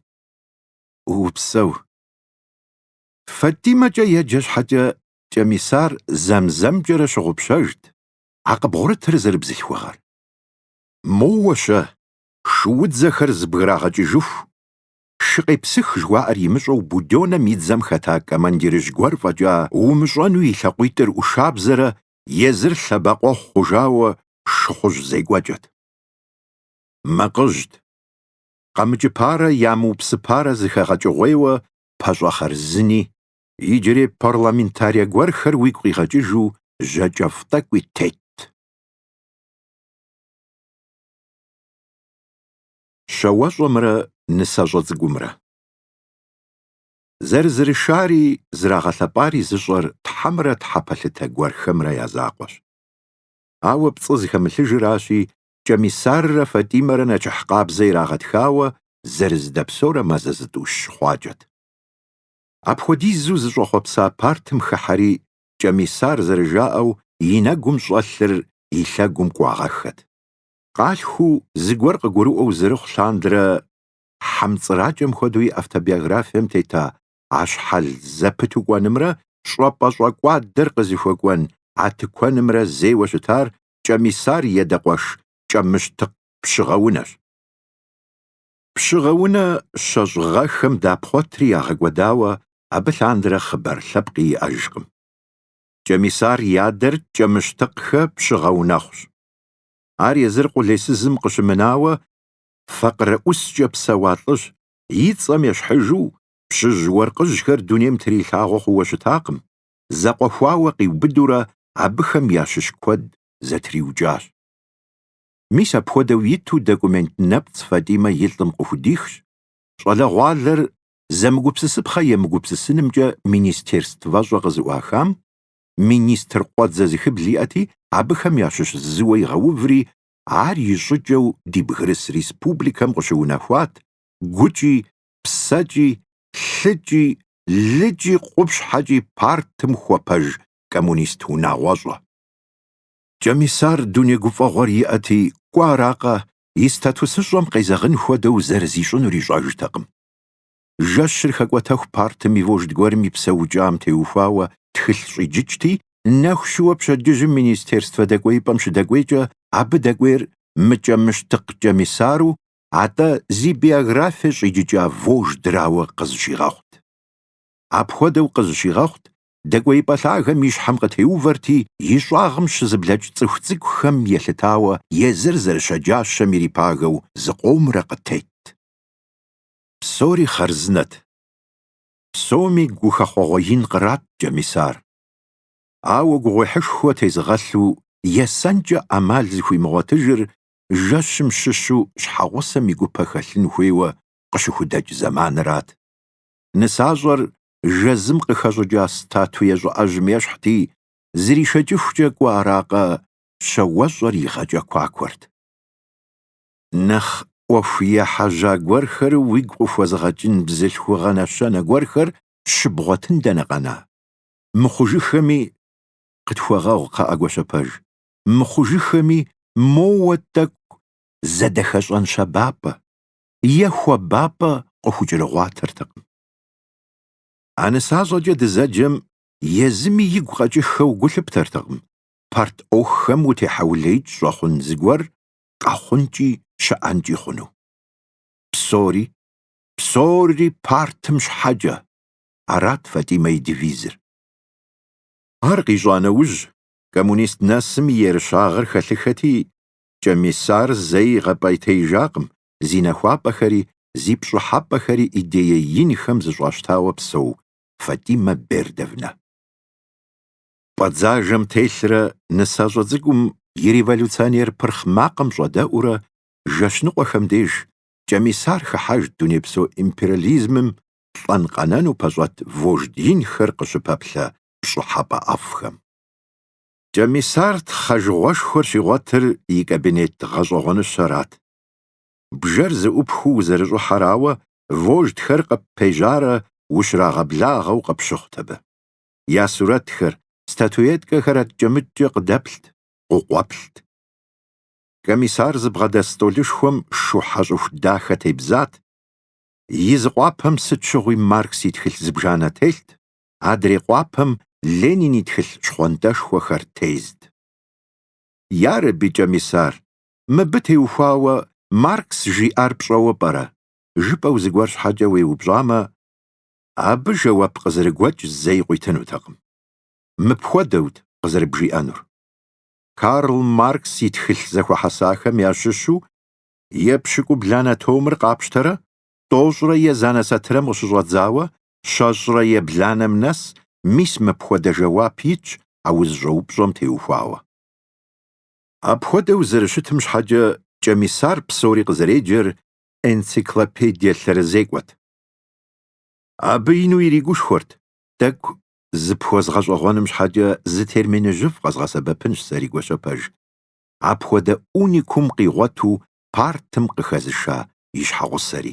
Уупсэу. Фатимэкӏэ еджэ щхьэкӏэ Кӏэмисар зэм-зэмкӏэрэ щыгъупщэжт а къыбгъурытыр зэрыбзылъхугъэр. Моуэ-щэ, шуудзэхэр зэбграгъэкӏыжыху, шы къепсых жыхуаӏэр имыщӏэу Буденнэм и дзэм хэта командирыжь гуэр фӏэкӏа умыщӏэну и лъакъуитӏыр ӏушабзэрэ езыр лъэбакъуэхъу хъужауэ шыхъужь зекӏуэкӏэт. Макъыжьт. Къэмыкӏыпарэ ямыупсыпарэ зыхэгъэкӏыгъуейуэ пащӏэ хъарзыни, иджырей парламентарие гуэрхэр уигу къигъэкӏыжу жьакӏэфӏ тӏэкӏуи тетт. Щауэщӏэмрэ нысащӏэ цӏыкӏумрэ зэрызэрышари зэрагъэлъэпӏари зыщӏэр тхьэмрэ тхьэпэлъытэ гуэрхэмрэ я закъуэщ. Ауэ пцӏы зыхэмылъыжыращи, Кӏэмисаррэ Фатӏимэрэ нэчыхь къабзэ ирагъэтхауэ зэрызэдэпсэурэ мазэ зытӏущ хъуакӏэт. Апхуэдизу зыщӏэхъуэпса партым хыхьэри, Кӏэмисар зэрыжаӏэу и нэгум щӏэлъыр и лъэгум кӏуагъэххэт. Къалъхуу, зыгуэр къыгурыӏуэу зэрыхъу лъандэрэ хьэмцӏыракӏэм хуэдэу и автобиографием тета а щхьэл зэпыту кӏуэнымрэ щӏэпӏэ щӏэкӏуадэр къызыхуэкӏуэн а тыкуэнымрэ зейуэ щытар кӏэмисар и адэ къуэш Кӏэмыщтыкъ Пщыгъэунэщ. Пщыгъэунэ щэщӏ гъэхэм дапхъуэтри ягъэкӏуэдауэ абы лъандэрэ хъыбар лъэпкъи иӏэжкъым. Кӏэмисар и адэр Кӏэмыщтыкъхэ Пщыгъэунэхъущ. Ар езыр къулейсызым къыщымынауэ факъырэ ӏускӏэ псэуа лӏыщ, и цӏэм ещхьыжу пщыжь уэркъыжьхэр дунейм трилъагъуэ хъууэ щытакъым, зэкъуэхуауэ къиубыдурэ абыхэм ящыщ куэд зэтриукӏащ. Мис апхуэдэу иту документ нэпцӏ Фатӏимэ и лӏым къыхудихщ, щӏалэгъуалэр зэмыгупсысыпхъэ емыгупсысынымкӏэ министерствэщӏэ къызыӏуахам, министр къуэдзэ зыхыбл иӏэти, абыхэм ящыщ зыуэ игъэуври, ар и щӏыкӏэу ди бгырыс республикэм къыщыунэхуат, гукӏи псэкӏи, лъыкӏи, лыкӏи къупщхьэкӏи партым хуэпэж коммунист унагъуэщӏэ. Кӏэмисар дуней гуфӏэгъуэр иӏэти, кӏуэ аракъэ, и статусыщӏэм къезэгъын хуэдэу зэрызищӏынур ищӏэжтэкъым. Жэщыр хэкӏуэтэху партым и вожд гуэрым и псэукӏам теухуауэ тхылъ щӏиджыкӏти, нэху щыуэ пщэдджыжьым министерствэ дэкӏуеипӏэм щыдэкӏуейкӏэ абы дэкӏуейр мыКӏэмыщтыкъ Кӏэмисару атӏэ зи биографие щӏиджыкӏа вождрауэ къызыщигъэхъут. Апхуэдэу къызыщигъэхъут, дэкӏуеипӏэ лъагэм и щхьэм къытеувэрти, и щӏагъым щызыблэкӏ цӏыху цӏыкӏухэм елъытауэ езыр зэрыщэджащэм ирипагэу зыкъомрэ къытетт. Псори хъарзынэт. Псоми гухэхъуэгъуэ ин кърат Кӏэмисар. Ауэ гугъуехьышхуэ тезыгъэлъу есэнкӏэ ӏэмал зыхуимыгъуэтыжыр жэщым щыщу щхьэгъусэм и гупэ хэлъын хуейуэ къыщыхудэкӏ зэманырат. Нысащӏэр жэзым къыхэщӏыкӏа статуе щӏыӏэжьым ещхьти, зришэкӏыхукӏэ кӏуэ аракъэ, щауэщӏэр игъэкӏэкуакуэрт. Нэхъ ӏуэху ехьэжьа гуэрхэр уигу къыхуэзыгъэкӏын бзылъхугъэ нэщэнэ гуэрхэр щыбгъуэтын дэнэ къэна? Мыхъужыххэми къытхуэгъэгъу, кхъыӏэ, Гуащэпэж, мыхъужыххэми моуэ тӏэкӏу зэдэхэщӏэн щабапӏэ е хуабапӏэ къыхукӏэрыгъуатэртэкъым. А нысащӏэкӏэ дызэджэм езыми игу къэкӏыххэу гу лъыптэртэкъым парт ӏуэхухэм утехьэулеикӏ щӏэхъун зыгуэр къэхъункӏи щыӏэнкӏи хъуну. Псори, псори партым щхьэкӏэ, арат Фатӏимэ и девизыр. Ар къищӏа нэужь, коммунист нэсым и ерыщагъыр хэлъыхэти, Кӏэмисар зэи игъэпӏейтеижакъым, зи нэхуапӏэхэри, зи пщӏыхьэпӏэхэри идее инхэм зыщӏащтауэ псэу Фатимэ Бердовнэ. Пӏэ дзажэм телърэ нысащӏэ цӏыкӏум и революционер пырхъ макъым щӏэдэӏуурэ жэщ ныкъуэхэм деж Кӏэмисар хыхьэжт дунейпсо империализмым лӏэн-къэнэну пэщӏэт вождь инхэр къыщыпэплъэ пщӏыхьэпӏэ ӏэфӏхэм. Кӏэмисар тхъэжыгъуэшхуэр щигъуэтыр и кабинет гъэщӏэгъуэныщэрат. Бжэр зыӏупхыу узэрыщӏыхьэрауэ, вождхэр къыппежьарэ ущрагъэблагъэу къыпщыхъут абы. Я сурэтхэр, статуеткэхэр адкӏэ-мыдкӏэ къыдэплът, къыкъуэплът. Кӏэмисар зыбгъэдэс стӏолышхуэм шухьэ щӏыху дахэ тебзат, и зы къуапэм сыт щыгъуи Маркс и тхылъ зыбжанэ телът, адрей къуапэм Ленин и тхылъ щхъуантӏэшхуэхэр тезт. Ярэби, Кӏэмисар, мыбы теухуауэ Маркс жиӏар пщӏэуэ пӏэрэ? жыпӏэу зыгуэр щхьэкӏэ уеупщӏамэ, абы жэуап къызэрыгуэкӏ зэи къуитынутэкъым. Мыпхуэдэут къызэрыбжиӏэнур. Карл Маркс и тхылъ зэхуэхьэсахэм ящыщу епщыкӏубланэ томыр къапщтэрэ, тӏощӏрэ езанэ сатырэм къыщыщӏэдзауэ Щэщӏрэ ебланэм нэс, мис мыпхуэдэ жэуап итщ а узыщӏэупщӏэм теухуауэ. Апхуэдэу зэрыщытым щхьэкӏэ Кӏэмисар псори къызэреджэр энциклопедие лъэрызекӏуэт. Абы ину иригушхуэрт, Тӏэкӏу зыпхуэзгъэщӏэгъуэным щхьэкӏэ зы терминыжьыфӏ къэзгъэсэбэпынщ сэри Гуащэпэж, апхуэдэ уникум къигъуэту партым къыхэзыша и щхьэгъусэри.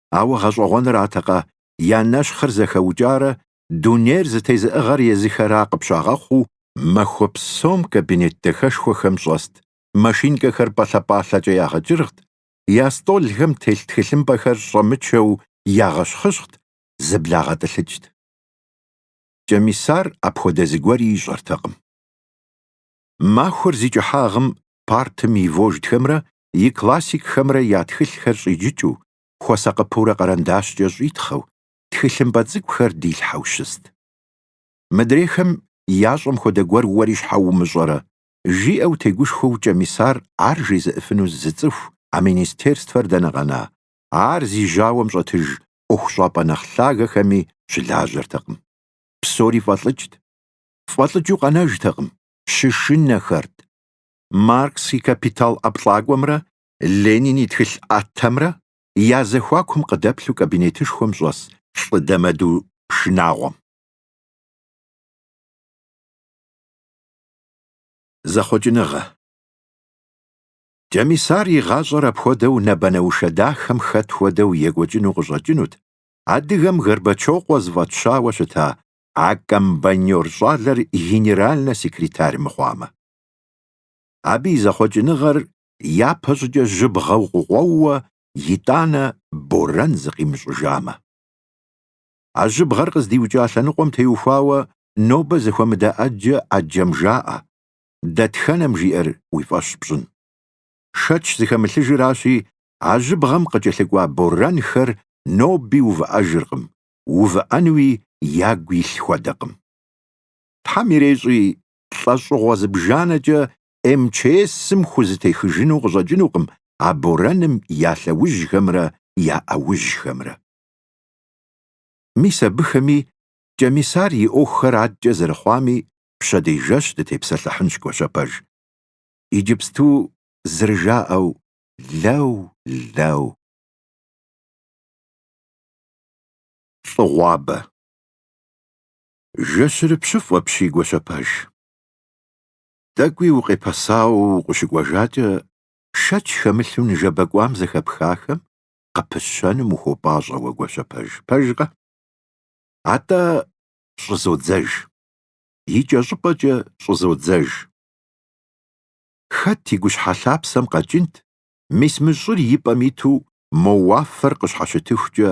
ауэ гъэщӏэгъуэнратэкъэ, я нэщхъыр зэхэукӏарэ, дунейр зытезыӏыгъэр езыхэра къыпщагъэхъуу, махуэ псом кабинет дахэшхуэхэм щӏэст машинкэхэр пӏалъэ-пӏалъэкӏэ ягъэкӏыргът, я стӏолхэм телъ тхылъымпӏэхэр щӏэмычэу ягъэщхъыщхът, зэблагъэтӏылъыкӏт. Кӏэмисар апхуэдэ зыгуэри ищӏэртэкъым. Махуэр зи кӏыхьагъым партым и вождхэмрэ и классикхэмрэ я тхылъхэр щӏиджыкӏыу, хуэсакъыпэурэ къэрэндащкӏэ щӏитхъэу, тхылъымпӏэ цӏыкӏухэр дилъхьэу щыст. Мыдрейхэм ящӏэм хуэдэ гуэр уэри щхьэ умыщӏэрэ? жиӏэу тегушхуэу Кӏэмисар ар жезыӏыфыну зы цӏыху, а министерствэр дэнэ къэна, ар зи жьауэм щӏэтыж ӏуэхущӏапӏэ нэхъ лъагэхэми щылажьэртэкъым. Псори фӏэлӏыкӏт. Фӏэлӏыкӏыу къэнэжтэкъым, щышынэхэрт. Маркс и «Капитал» ӏэплӏакӏуэмрэ Ленин и тхылъ ӏэтэмрэ я зэхуакум къыдэплъу кабинетышхуэм щӏэс лӏы дэмэду шынагъуэм. Зэхъуэкӏыныгъэ. Кӏэмисар и гъащӏэр апхуэдэу нэбэнэушэ дахэм хэт хуэдэу екӏуэкӏыну къыщӏэкӏынут адыгэм Горбачокъуэ зыфӏэтщауэ щыта а комбайнёр щӏалэр генеральнэ секретарь мыхъуамэ. Абы и зэхъуэкӏыныгъэр япэ щӏыкӏэ жьыбгъэу къыкъуэууэ итӏанэ борэн зыкъимыщӏыжамэ. А жьыбгъэр къыздиукӏа лъэныкъуэм теухуауэ нобэ зэхуэмыдэ ӏэджэ ӏэджэм жаӏэ, дэтхэнэм жиӏэр уи фӏэщ пщӏын. Шэч зыхэмылъыжыращи, а жьыбгъэм къыкӏэлъыкӏуа борэнхэр ноби увыӏэжыркъым, увыӏэнуи ягу илъ хуэдэкъым. Тхьэм ирещӏи, лӏэщӏыгъуэ зыбжанэкӏэ МЧС-м хузэтехыжыну къыщӏэкӏынукъым а борэным я лъэужьхэмрэ я ӏэужьхэмрэ. Мис абыхэми Кӏэмисар и ӏуэхухэр адэкӏэ зэрыхъуами пщэдей жэщ дытепсэлъыхьынщ Гуащэпэж. Иджыпсту зэрыжаӏэу лэу, лэу. Лӏыгъуабэ. Жэщырыпщыфӏ апщий Гуащэпэж. Тӏэкӏуи укъепэсауэ укъыщыкӏуэжакӏэ, шэч хэмылъу ныжэбэ кӏуам зэхэпхахэм къыпыщэным ухуопӏащӏэ уэ Гуащэпэж, пэжкъэ? Атӏэ щӏызодзэж. Икӏэщӏыпӏэкӏэ щӏызодзэж. Хэт и гущхьэ лъапсэм къэкӏынт, мис мы щӏыр и пӏэм иту мо уафэр къыщхьэщытыхукӏэ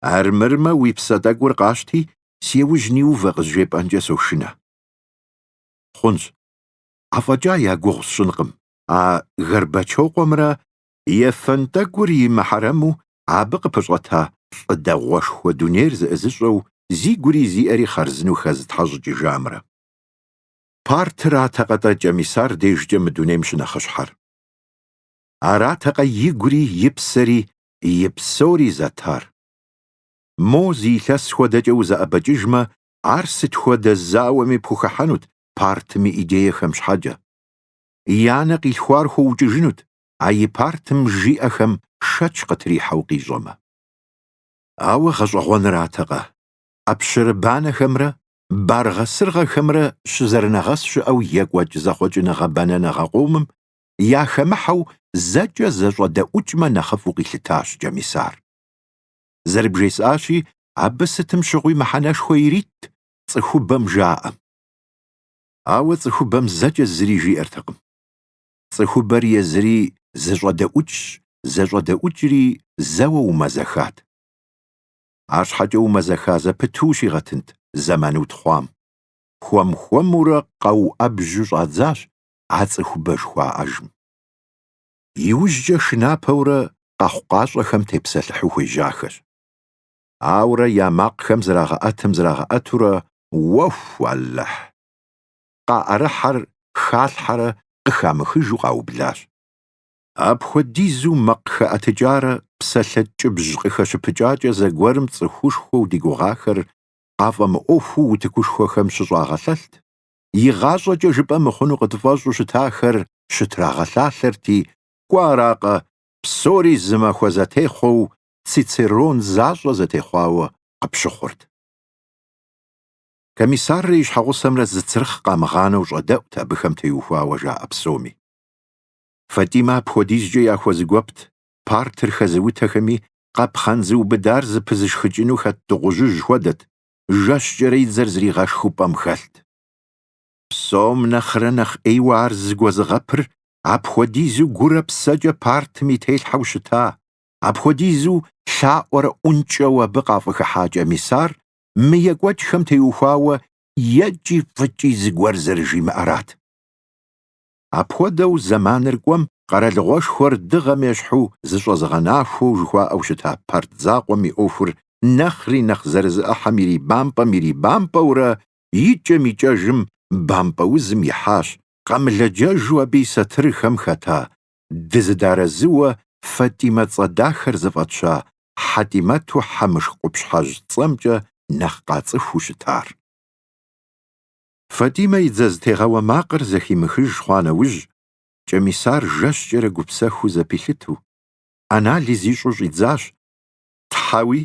Армырмэ, уи псэ тӏэкӏур къащти, си яужь ниувэ къызжепӏэнкӏэ сошынэ. Хъунщ. Афӏэкӏа я гугъу сщӏынкъым. А Горбачокъуэмрэ ефэн тӏэкӏур и мыхьэрэму абы къыпэщӏэта лӏы дэгъуэшхуэ дунейр зэӏызыщӏэу зи гури зи ӏэри хъарзынэу хэзытхьэщӏыкӏыжамрэ. Партыратэкъэ-тӏэ Кӏэмисар дежкӏэ мы дунейм щынэхъыщхьэр? Аратэкъэ и гури и псэри и псори зэтар. Мо зы илъэс хуэдэкӏэ узэӏэбэкӏыжмэ, ар сыт хуэдэ зауэми пхухыхьэнут партым и идеехэм щхьэкӏэ. И анэ къилъхуар хуэукӏыжынут, а и партым жиӏэхэм шэч къытрихьэу къищӏэмэ. Ауэ гъэщӏэгъуэнратэкъэ, ӏэпщэрыбанэхэмрэ баргъэ-сыргъэхэмрэ щызэрынэгъэс щыӏэу екӏуэкӏ зэхъуэкӏыныгъэ бэнэныгъэ къомым яхэмыхьэу зэкӏэ зэщӏэдэӏукӏмэ нэхъыфӏу къилъытащ Кӏэмисар. Зэрыбжесӏащи, абы сытым щыгъуи мыхьэнэшхуэ иритт цӏыхубэм жаӏэм. Ауэ цӏыхубэм зэкӏэ зыри жиӏэртэкъым. Цӏыхубэр езыри зэщӏэдэӏукӏщ, зэщӏэдэӏукӏри зэуэ умэзэхат. Арщхьэкӏэ умэзэха зэпыту ущигъэтынт зэман утхъуам. Хуэм-хуэмурэ къэуӏэбжьу щӏадзащ а цӏыхубэ жыхуаӏэжым. Иужькӏэ шынапэурэ къэхъукъащӏэхэм тепсэлъыхьу хуежьахэщ. Ауэрэ я макъхэм зрагъэӏэтым зрагъэӏэтурэ уэху, Алыхь! къаӏэрыхьэр халъхьэрэ къыхамыхыжу къаублащ. Апхуэдизу макъ хэӏэтыкӏарэ псалъэ ткӏыбжь къыхэщыпыкӏакӏэ зэгуэрым цӏыхушхуэу ди гугъахэр къафӏэмыӏуэхуу утыкушхуэхэм щыщӏагъэлъэлът, игъащӏэкӏэ жыпӏэ мыхъуну къытфӏэщӏу щытахэр щытрагъэлъалъэрти, кӏуэ аракъэ, псори зы махуэ зэтехъуэу Цицерон защӏэ зэтехъуауэ къыпщыхъурт. Комиссаррэ и щхьэгъусэмрэ зы цырхъ къамыгъанэу щӏэдэӏут абыхэм теухуауэ жаӏэ псоми. Фатимэ апхуэдизкӏэ яхуэзыгуэпт партыр хэзыутэхэми, къапхъэн зыубыдар зыпызышхыкӏыну хэт дыгъужьыжь хуэдэт, жэщкӏэрэ и дзэр зригъэшхыу пӏэм хэлът. Псом нэхърэ нэхъ ӏейуэ ар зыгуэзыгъэпыр апхуэдизу гурэ псэкӏэ партым и телъхьэу щыта, апхуэдизу лъаӏуэрэ ӏункӏэу абы къафӏыхыхьа Кӏэмисар мы екӏуэкӏхэм теухуауэ екӏи фӏыкӏи зыгуэр зэрыжимыӏэрат. Апхуэдэу зэманыр кӏуэм къэралыгъуэшхуэр дыгъэм ещхьу зыщӏэзыгъэнахуэу жыхуаӏэу щыта Парт закъуэм и ӏуэхур нэхъри нэхъ зэрызыӏыхьэм ирибампӏэм-ирибампӏэурэ икӏэм-икӏэжым бампӏэ узым ихьащ, къэмылэджэжу абы и сатырхэм хэта дызыдарэзыуэ Фатимэ цӏэ дахэр зыфӏэтща Хьэтимэту Хьэмышх къупщхьэжь цӏэмкӏэ нэхъ къацӏыхуу щытар. Фатимэ и дзэ зытегъэуэ макъыр зэхимыхыж хъуа нэужь, Кӏэмисар жэщкӏэрэ гупсэхуу зэпилъыту, анализ ищӏу щӏидзащ, Тхьэуи,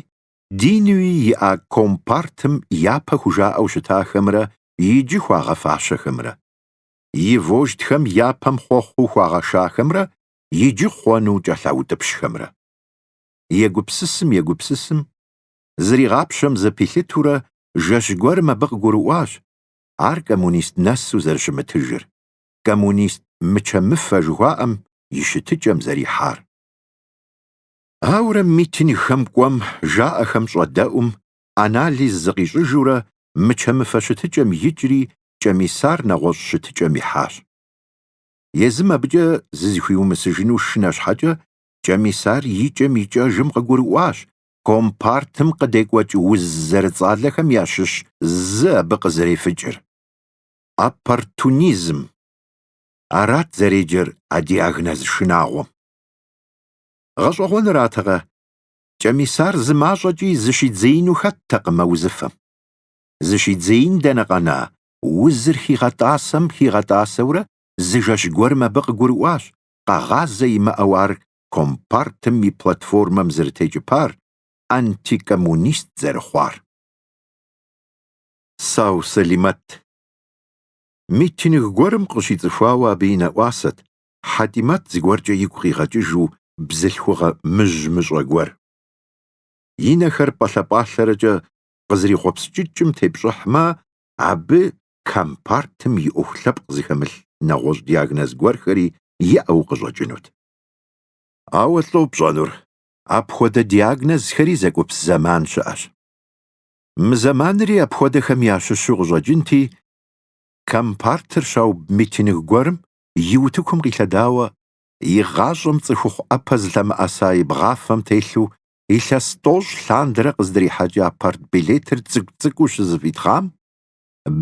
динуи иӏа компартым япэ хужаӏэу щытахэмрэ иджы хуагъэфащэхэмрэ, и вождхэм япэм хъуэхъуу хуагъэшахэмрэ иджы хъуэну кӏэлъаутӏыпщхэмрэ. Егупсысым-егупсысым, зригъапщэм зэпилъытурэ жэщ гуэрым абы къыгурыӏуащ ар коммунист нэсу зэрыщымытыжыр, коммунист мычэ-мыфэ жыхуаӏэм и щытыкӏэм зэрихьар. Ауэрэ митингхэм кӏуэм, жаӏэхэм щӏэдэӏум, анализ зыкъищӏыжурэ мычэ-мыфэ щытыкӏэм икӏри Кӏэмисар нэгъуэщӏ щытыкӏэм ихьащ. Езым абыкӏэ зызыхуиумысыжыну шынэ щхьэкӏэ Кӏэмисар икӏэм-икӏэжым къыгурыӏуащ Компартым къыдекӏуэкӏ уз зэрыцӏалэхэм ящыщ зы абы къызэрефыкӏыр. Оппортунизм. Арат зэреджэр а диагноз шынагъуэм. Гъэщӏэгъуэнратэкъэ, Кӏэмисар зы мащӏэкӏи зыщидзеину хэттэкъым а узыфэм. Зыщидзеин дэнэ къэна, узыр хигъэтӏасэм хигъэтӏасэурэ зы жэщ гуэрым абы къыгурыӏуащ, къэгъазэ имыӏэу ар компартым и платформэм зэрытекӏыпар, антикоммунист зэрыхъуар. Сау Сэлимэт. Митинг гуэрым къыщицӏыхуауэ абы и нэӏуасэт Хьэтимэт зыгуэркӏэ игу къигъэкӏыжу бзылъхугъэ мыжь-мыщӏэ гуэр. И нэхэр пӏэлъэ-пӏалъэрэкӏэ къызэрихъуэпскӏыкӏым тепщӏыхьмэ, абы компартым и ӏуэху лъэпкъ зыхэмылъ нэгъуэщӏ диагноз гуэрхэри иӏэу къыщӏэкӏынут. Ауэ лӏо пщӏэнур, апхуэдэ диагнозхэри зэкӏупс зэман щыӏэщ. Мы зэманри апхуэдэхэм ящыщу къыщӏэкӏынти, Компартыр щауб митинг гуэрым и утыкум къилъэдауэ, и гъащӏэм цӏыхухъу ӏэпэ зылъэмыӏэса и бгъафэм телъу илъэс тӏощӏ лъандэрэ къыздрихьэкӏа партбилетыр цӏыкӏу-цӏыкӏуу щызэфӏитхъам,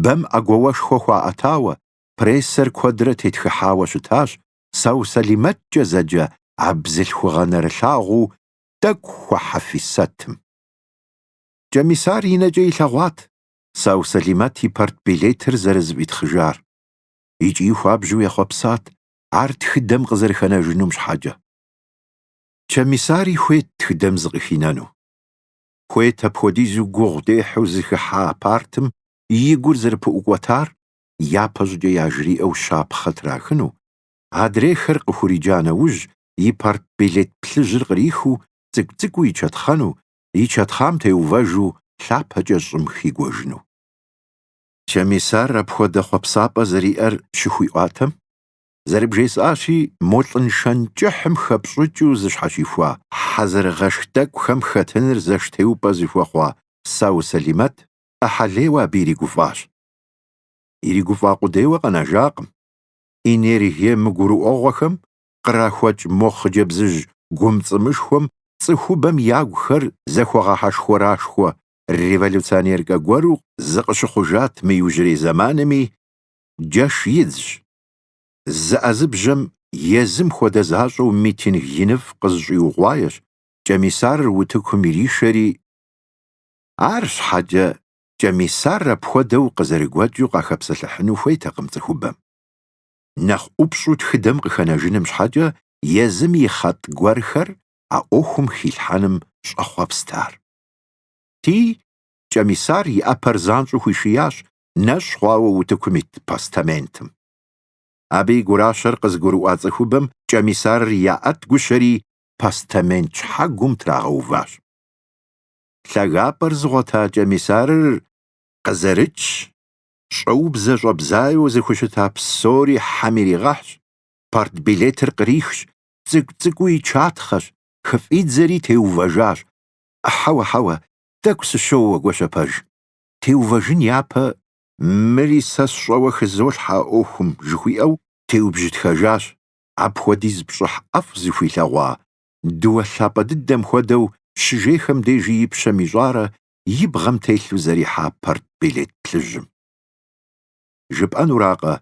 бэм ӏэгуауэшхуэ хуаӏэтауэ, прессэр куэдрэ тетхыхьауэ щытащ Сау Сэлимэткӏэ зэджэ а бзылъхугъэ нэрылъагъуу тӏэкӏу хуэхьэфисэтым. Кӏэмисар и нэкӏэ илъэгъуат Сау Сэлимэт и партбилетыр зэрызэфӏитхъыжар икӏи хуабжьу ехъуэпсат ар тхыдэм къызэрыхэнэжынум щхьэкӏэ. Кӏэмисари хуейт тхыдэм зыкъыхинэну. Хуейт апхуэдизу гугъу дехьу зыхыхьа партым и гур зэрыпыӏукӏуэтар япэщӏыкӏэ яжриӏэу щапхъэ трахыну, адрейхэр къыхуриджа нэужь, и партбилет плъыжьыр кърихыу цӏыкӏу-цӏыкӏуу ичэтхъэну, ичэтхъам теувэжу лъапэкӏэ щӏым хигуэжыну. Кӏэмисар апхуэдэ хъуэпсапӏэ зэриӏэр щыхуиӏуатэм, зэрыбжесӏащи, мо лӏыншэн кӏыхьым хэпщӏыкӏыу зыщхьэщихуа хьэзырыгъэшх тӏэкӏухэм хэтыныр зэштеупӏэ зыхуэхъуа Сау Сэлимэт ӏыхьэлейуэ абы иригуфӏащ. Иригуфӏа къудейуэ къэнэжакъым. Энергие мыгурыӏуэгъуэхэм кърахуэкӏ мо хъыджэбзыжь гумцӏымышхуэм цӏыхубэм ягухэр зэхуэгъэхьэшхуэрашхуэ революционеркэ гуэру зыкъыщыхъужат мы иужьрей зэманми, джэш идзщ. Зыӏэзыбжьэм езым хуэдэ защӏэу митинг иныфӏ къызыщӏиугъуаещ, Кӏэмисарыр утыкум иришэри, Арщхьэкӏэ Кӏэмисар апхуэдэу къызэрыгуэкӏыу къахэпсэлъыхьыну хуейтэкъым цӏыхубэм. Нэхъ ӏупщӏу тхыдэм къыхэнэжыным щхьэкӏэ езым и хъэтӏ гуэрхэр а ӏуэхум хилъхьэным щӏэхъуэпст ар. Ти, Кӏэмисар и ӏэпэр занщӏэу хуишиящ нэщӏ хъуауэ утыкум ит постаментым. Абы и гуращэр къызыгурыӏуа цӏыхубэм Кӏэмисарыр яӏэт гущэри, постамент щхьэгум трагъэуващ. лъагапӏэр зыгъуэта Кӏэмисарыр къызэрыкӏщ, щӏэубзэ щӏэбзаеу зыхущыта псори хьэм иригъэхьщ, партбилетыр кърихщ, цӏыкӏу-цӏыкӏуу ичатхъэщ, хыфӏидзэри теувэжащ. Хьэуэ, хьэуэ, тӏэкӏу сыщоуэ, Гуащэпэж. Теувэжын япэ мыри сэ сщӏэуэ хызолъхьэ а ӏуэхум, жыхуиӏэу, теубжытхэжащ, апхуэдиз пщӏыхь ӏэфӏ зыхуилъэгъуа дыуэ лъапӏэ дыдэм хуэдэу щыжейхэм дежи и пщэм ищӏарэ и бгъэм телъу зэрихьа партбилет плъыжьым. Жыпӏэнуракъэ,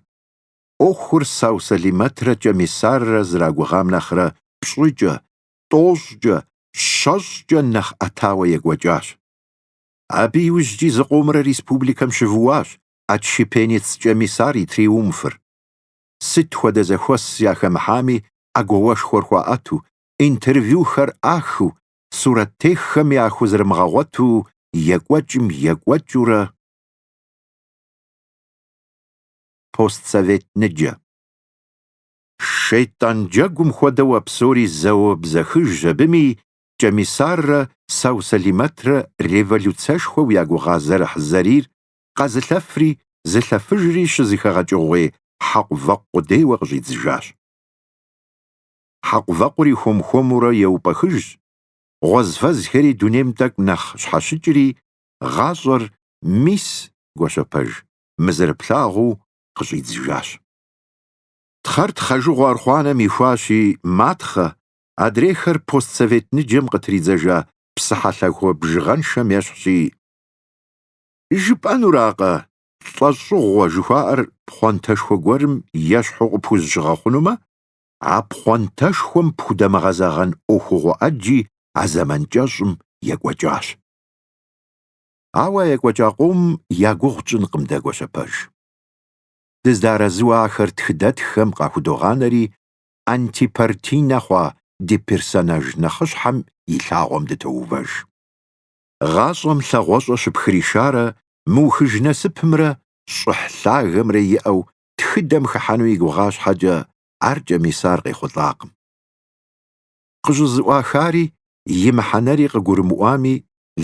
ӏуэхур Сау-Сэлимэтрэ Кӏэмисаррэ зэрагугъам нэхърэ пщӏыкӏэ, тӏощӏкӏэ, щэщӏкӏэ нэхъ ӏэтауэ екӏуэкӏащ. Абы иужькӏи зыкъомрэ республикэм щывууащ отщепенец Кӏэмисар и триумфыр. сыт хуэдэ зэхуэс яхэмыхьами ӏэгуауэшхуэр хуаӏэту, интервьюхэр ӏахыу, сурэттеххэм яхузэрымыгъэгъуэту екӏуэкӏым екӏуэкӏыурэ постсовет ныджэ. Шейтӏан джэгум хуэдэу а псори зэуэ бзэхыж абыми Кӏэмисаррэ Сау-Сэлимэтрэ революцэшхуэу ягугъа зэрыхьзэрийр къэзылъэфри зылъэфыжри щызэхэгъэкӏыгъуей хьэкъувэкъу къудейуэ къыщӏидзыжащ. Хьэкъувэкъури хуэм-хуэмурэ еупӏэхыжщ, гъуэзфэзхэри дунейм тӏэкӏу нэхъ щхьэщыкӏри, гъащӏэр мис Гуащэпэж мы зэрыплъагъуу къыщӏидзыжащ. Тхъэр тхъэжыгъуэ архъуанэм ихуащи, матхъэ, адрейхэр постсовет ныджэм къытридзэжа псыхьэлъахуэ бжыгъэншэм ещхьщи, Жыпӏэнуракъэ, лӏэщӏыгъуэ жыхуаӏэр пхъуантэшхуэ гуэрым ещхьу къыпхузыщыгъэхъунумэ, а пхъуантэшхуэм пхудэмыгъэзэгъэн ӏуэхугъуэ ӏэджи а зэман кӏэщӏым екӏуэкӏащ. Ауэ а екӏуэкӏа къом я гугъу тщӏынкъым дэ Гуащэпэж. Дызэдэарэзыуэ ахэр тхыдэтххэм къахудогъанэри, антипартийнэ хъуа ди персонаж нэхъыщхьэм и лъагъуэм дытоувэж. гъащӏэм лъагъуэщӏэ щыпхришарэ мыухыж насыпымрэ щӏыхь лъагэмрэ иӏэу тхыдэм хыхьэну и гугъа щхьэкӏэ, ар Кӏэмисар къехъулӏакъым. Къыщӏызэӏуахари и мыхьэнэри къыгурымыӏуами,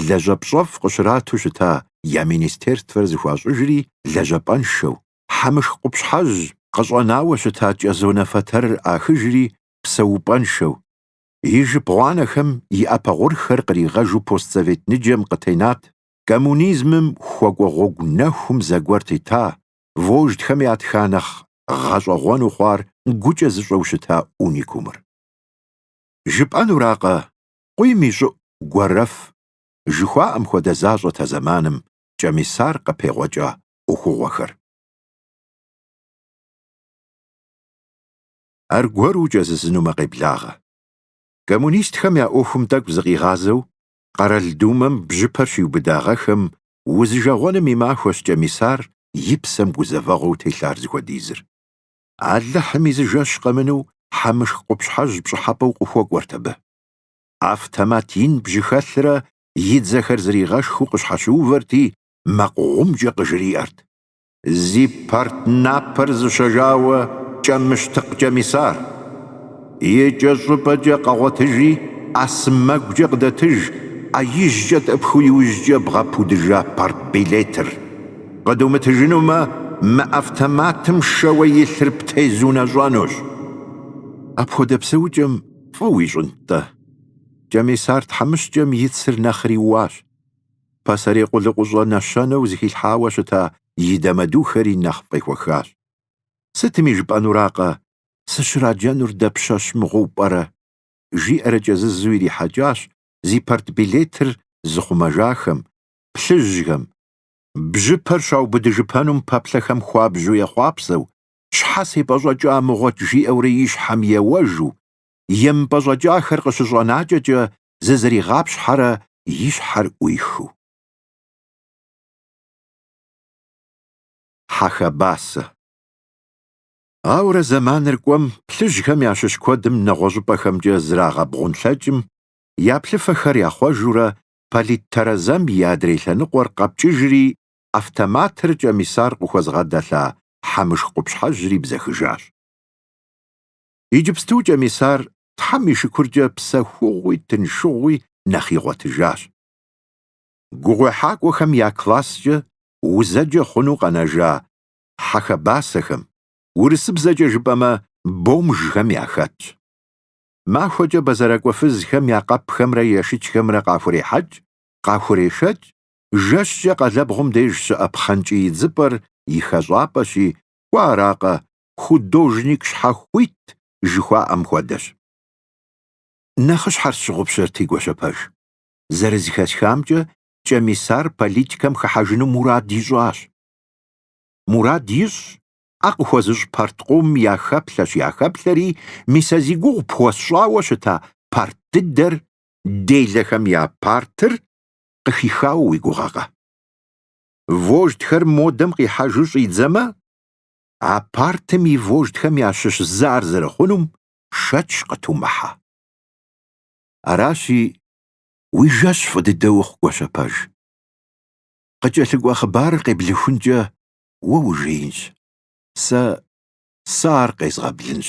лэжьапщӏэфӏ къыщрату щыта я министерствэр зэхуащӏыжри лэжьапӏэншэу, Хьэмышх къупщхьэжь къыщӏэнауэ щыта кӏэзонэ фэтэрыр ӏахыжри псэупӏэншэу, И жып гъуанэхэм и ӏэпэ гъурхэр къригъэжу постсовет ныджэм къытенат, коммунизмым хуэкӏуэ гъуэгу нэхум зэгуэр тета, вождхэм ятха нэхъ гъэщӏэгъуэну хъуар гукӏэ зыщӏэу щыта уникумыр. Жыпӏэнуракъэ, къуийм и щӏыӏу гуэрэф жыхуаӏэм хуэдэ защӏэт а зэманым Кӏэмисар къыпегъуэкӏа ӏуэхугъуэхэр. аргуэру укӏэзызынумэ къеблагъэ. Коммунистхэм я ӏуэхум тӏэкӏу зыкъигъазэу, Къэрал Думэм бжьыпэр щиубыдагъэхэм узижагъуэным и махуэщ Кӏэмисар и псэм гузэвэгъуэу телъар зыхуэдизыр. Алыхьым и зы жэщ къэмыну Хьэмышх къупщхьэжь пщӏыхьэпӏэу къыхуэкӏуэрт абы. Автомат ин бжьыхэлърэ и дзэхэр зригъэшхыу къыщхьэщыувэрти, макъ гъумкӏэ къыжриӏэрт. Зи парт напэр зыщэжауэ кӏэмыщтыкъ Кӏэмисар. Икӏэщӏыпӏэкӏэ къэгъуэтыжи, ӏэ сэмэгукӏэ къыдэтыж, ӏэ ижькӏэ тӏэпхыу иужькӏэ бгъэпудыжа парт билетыр. Къыдумытыжынумэ, мы автоматым шэуэ илъыр птезунэщӏэнущ. Апхуэдэ псэукӏэм фӏы уищӏынт-тӏэ? Кӏэмисар тхьэмыщкӏэм и цыр нэхъри уащ. пасэрей къулыкъущӏэ нэщэнэу зыхилъхьауэ щыта и дамэдухэри нэхъ фӏехуэхащ. Сытми жыпӏэнуракъэ, сыщраджэнур дапщэщ мыгъуэу пӏэрэ? жиӏэрэ кӏэзызу ирихьэкӏащ зи партбилетыр зыхъумэжахэм, плъыжьхэм бжьыпэр щаубыдыжыпэнум пэплъэхэм хуабжьу ехъуапсэу, щхьэ сепӏэщӏэкӏа мыгъуэт жиӏэурэ и щхьэм еуэжу, емыпӏэщӏэкӏахэр къыщыщӏэнакӏэкӏэ зызэригъапщхьэрэ и щхьэр ӏуихыу. Хьэхэбасэ. Ауэрэ зэманыр кӏуэм, плъыжьхэм ящыщ куэдым нэгъуэщӏыпӏэхэмкӏэ зрагъэбгъунлъэкӏым, я плъыфэхэр яхъуэжурэ, политтэрэзэм и адрей лъэныкъуэр къэпкӏыжри, автоматыр Кӏэмисар къыхуэзыгъэдэлъа Хьэмышх къупщхьэжьри бзэхыжащ. Иджыпсту Кӏэмисар Тхьэм и шыкуркӏэ псэхугъуи тыншыгъуи нэхъ игъуэтыжащ. Гугъуехьакӏуэхэм я класскӏэ узэджэ хъуну къэнэжа хьэхэбасэхэм, урысыбзэкӏэ жыпӏэмэ, бомжхэм яхэтщ. Махуэкӏэ бэзэракӏуэ фызхэм я къэпхэмрэ ешычхэмрэ къахурехьэкӏ, къахурешэкӏ, жэщкӏэ къалэбгъум деж щыӏэ пхъэнкӏий идзыпӏэр и хэщӏапӏэщи, кӏуэ аракъэ, художник щхьэхуит жыхуаӏэм хуэдэщ. Нэхъыщхьэр сщыгъупщэрти, Гуащэпэж. Зэрызыхэсхамкӏэ, Кӏэмисар политикэм хыхьэжыну мурад ищӏащ. Мурад ищӏщ, ӏэ къыхуэзыщӏ парт къомым яхэплъэщ, яхэплъэри, мис а зи гугъу пхуэсщӏауэ щыта парт дыдэр, делэхэм я партыр, къыхихауэ уи гугъэкъэ? Вождьхэр модэм къихьэжу щӏидзэмэ, а партым и вождхэм ящыщ зы ар зэрыхъунум шэч къытумыхьэ. Аращи, уи жэщ фӏы дыдэ ухъу, Гуащэпэж. Къыкӏэлъыкӏуэ хъыбарыр къеблыхункӏэ уэ ужеинщ, сэ сэ ар къезгъэблынщ.